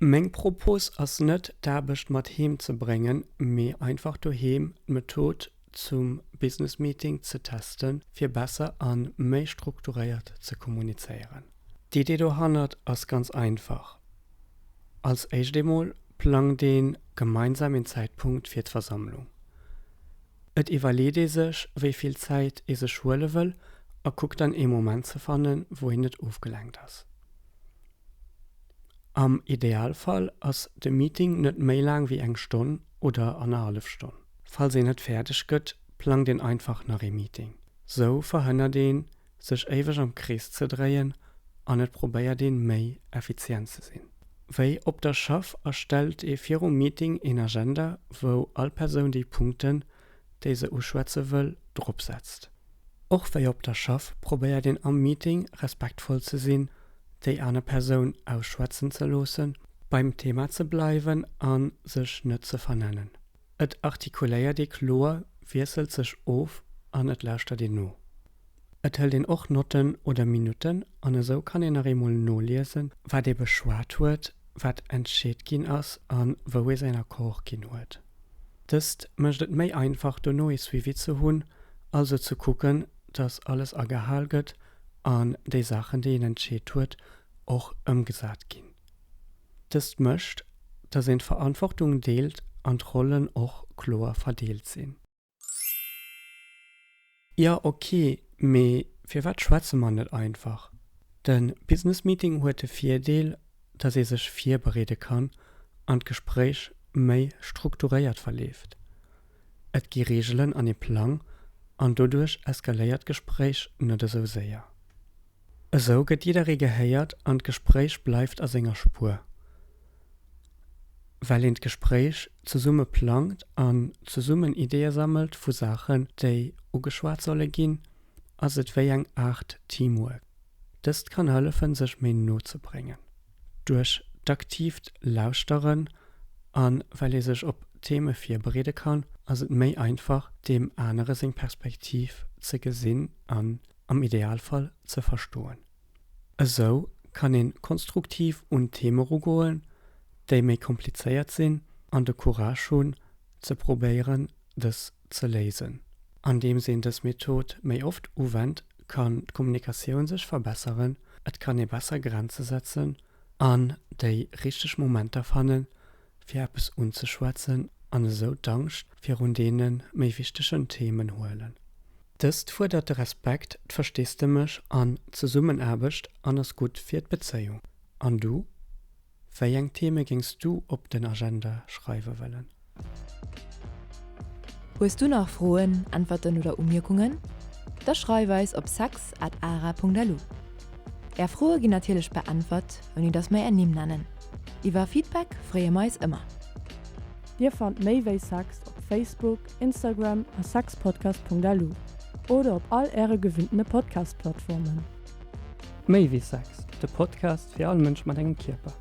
[SPEAKER 6] Meng Propos ass net, d'Aarbecht mat heem ze bréngen, mee einfach doheem d'Method zum Business Meeting ze testen, fir besser an méi strukturéiert ze kommunizéieren. D'Idee dohannert ass ganz einfach, Als éischt eemol plangt ee gemeinsam een Zäitpunkt fir d'Versammlung. Et iwwerleet ee sech, wéi vill Zäit ee sech huele wëll a kuckt dann ee Moment ze fannen, wou een net ofgelenkt ass. Am Idealfall ass de Meeting net méi laang wéi eng Stonn oder annerhallef Stonn. Falls een net fäerdeg gëtt, plangt een einfach nach ee Meeting. Sou verhënnert een, sech éiweg am Krees ze dréien an et probéiert een, méi effizient ze sinn. Wéi op der Schaff erstellt ee virum Meeting een Agenda, wou all Persoun déi Punkten, déi se uschwätze wëll, drop setzt. Och wéi op der Schaff probéiert een am Meeting respektvoll ze sinn, déi aner Persoun ausschwätzen ze loossen, beim Thema ze bleiwen a sech net ze vernennen. Et artikuléiert ee kloer, wiesselt sech of an et lauschtert een no. Et hëlt een och Notten oder Minutten an esou kann een nach eemol noliesen, wat ee beschwat huet, wat entscheet ginn ass a wou ee säin Accord ginn huet. Dëst mécht et méi einfach, dono ee Suivi ze hunn, also ze kucken, dass alles agehal gëtt an déi Saachen, déi een entscheet huet, och ëmgesat ginn. Dëst mécht, dass een d'Verantwortung deelt an d'Rollen och kloer verdeelt sinn. Jo ok, mee firwat schwätze mer net einfach? De Business Meeting huet de Virdeel, dass ee sech virbereede kann an d'Gespréich méi strukturéiert verleeft. Et gi Reegelen an ee Plang an doduerch eskaléiert d'Gespréich net esou séier. Esou gëtt jidderee gehéiert an d'Gespréich bleift a senger Spuer, well een d'Gespréich zesumme plangt an zesummen Ideeë sammelt vu Saachen, déi ugeschwat solle ginn, ass et wéi eng Aart Teamwork. Dëst kann hëllefen, sech méi no ze bréngen. Duerch d'aktiivt Lauschteren an well ee sech op Theme virbereede kann, ass et méi einfach, deem anere seng Perspektiv ze gesinn an am Idealfall ze verstoen. Esou kann een konstruktiv un Theme rugoen, déi méi komplizéiert sinn an de Courage hunn ze probéieren dës ze léisen. Andeems een dës Method méi oft uwennt, kann d'Kommunikatioun sech verbesseren, et kann ee besser Grenze setzen an déi richteg Momenter fannen, fir eppes unzeschwätzen an esou d'Angscht virun deene méi wichtegen Themen huelen. Dëst fuerdert de Respekt, d'Versteesdemech an d'Zesummenaarbecht an ass gutt fir d'Bezéiung. An du? Wéi eng Theme géings du op den Agenda schreiwe wëllen?
[SPEAKER 3] Hues du nach Froen, Äntwerten oder Umierkungen? Da schreif eis op sex at ara punkt lu. Är Froe ginn natierlech beäntwert, ouni datt mer är Nimm nennen. Iwwer Feedback freeë mer eis ëmmer! Dir
[SPEAKER 2] fannt méi wéi Sex op Facebook, Instagram a sexpodcast.lu oder op all äre gewinnte Podcast-Plattformen.
[SPEAKER 6] Méi wéi Sex, de Podcast fir all Mënsch mat engem Kierper.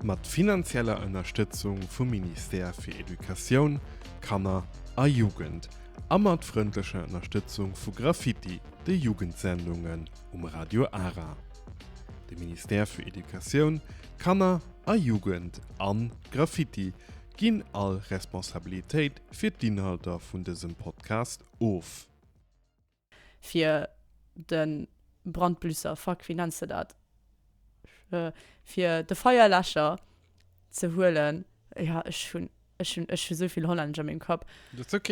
[SPEAKER 1] Mat finanzieller Ënnerstëtzung vum Ministère fir Educatioun, Kanner a Jugend a mat frëndlecher Ënnerstëtzung vu Graffiti, de Jugendsendungen um Radio Ara. De Ministère fir Educatioun, Kanner a Jugend an Graffiti ginn all Responsabilitéit fir d'Inhalter vun dësem Podcast of.
[SPEAKER 2] Fir de Brandblüsser, fuck, wéi nenns de dat? Fir de Feierläscher ze huelen, jo, ech hunn, ech
[SPEAKER 1] hunn, ech
[SPEAKER 2] hu souvill Hollännesch a mengem Kapp. Dat ass ok.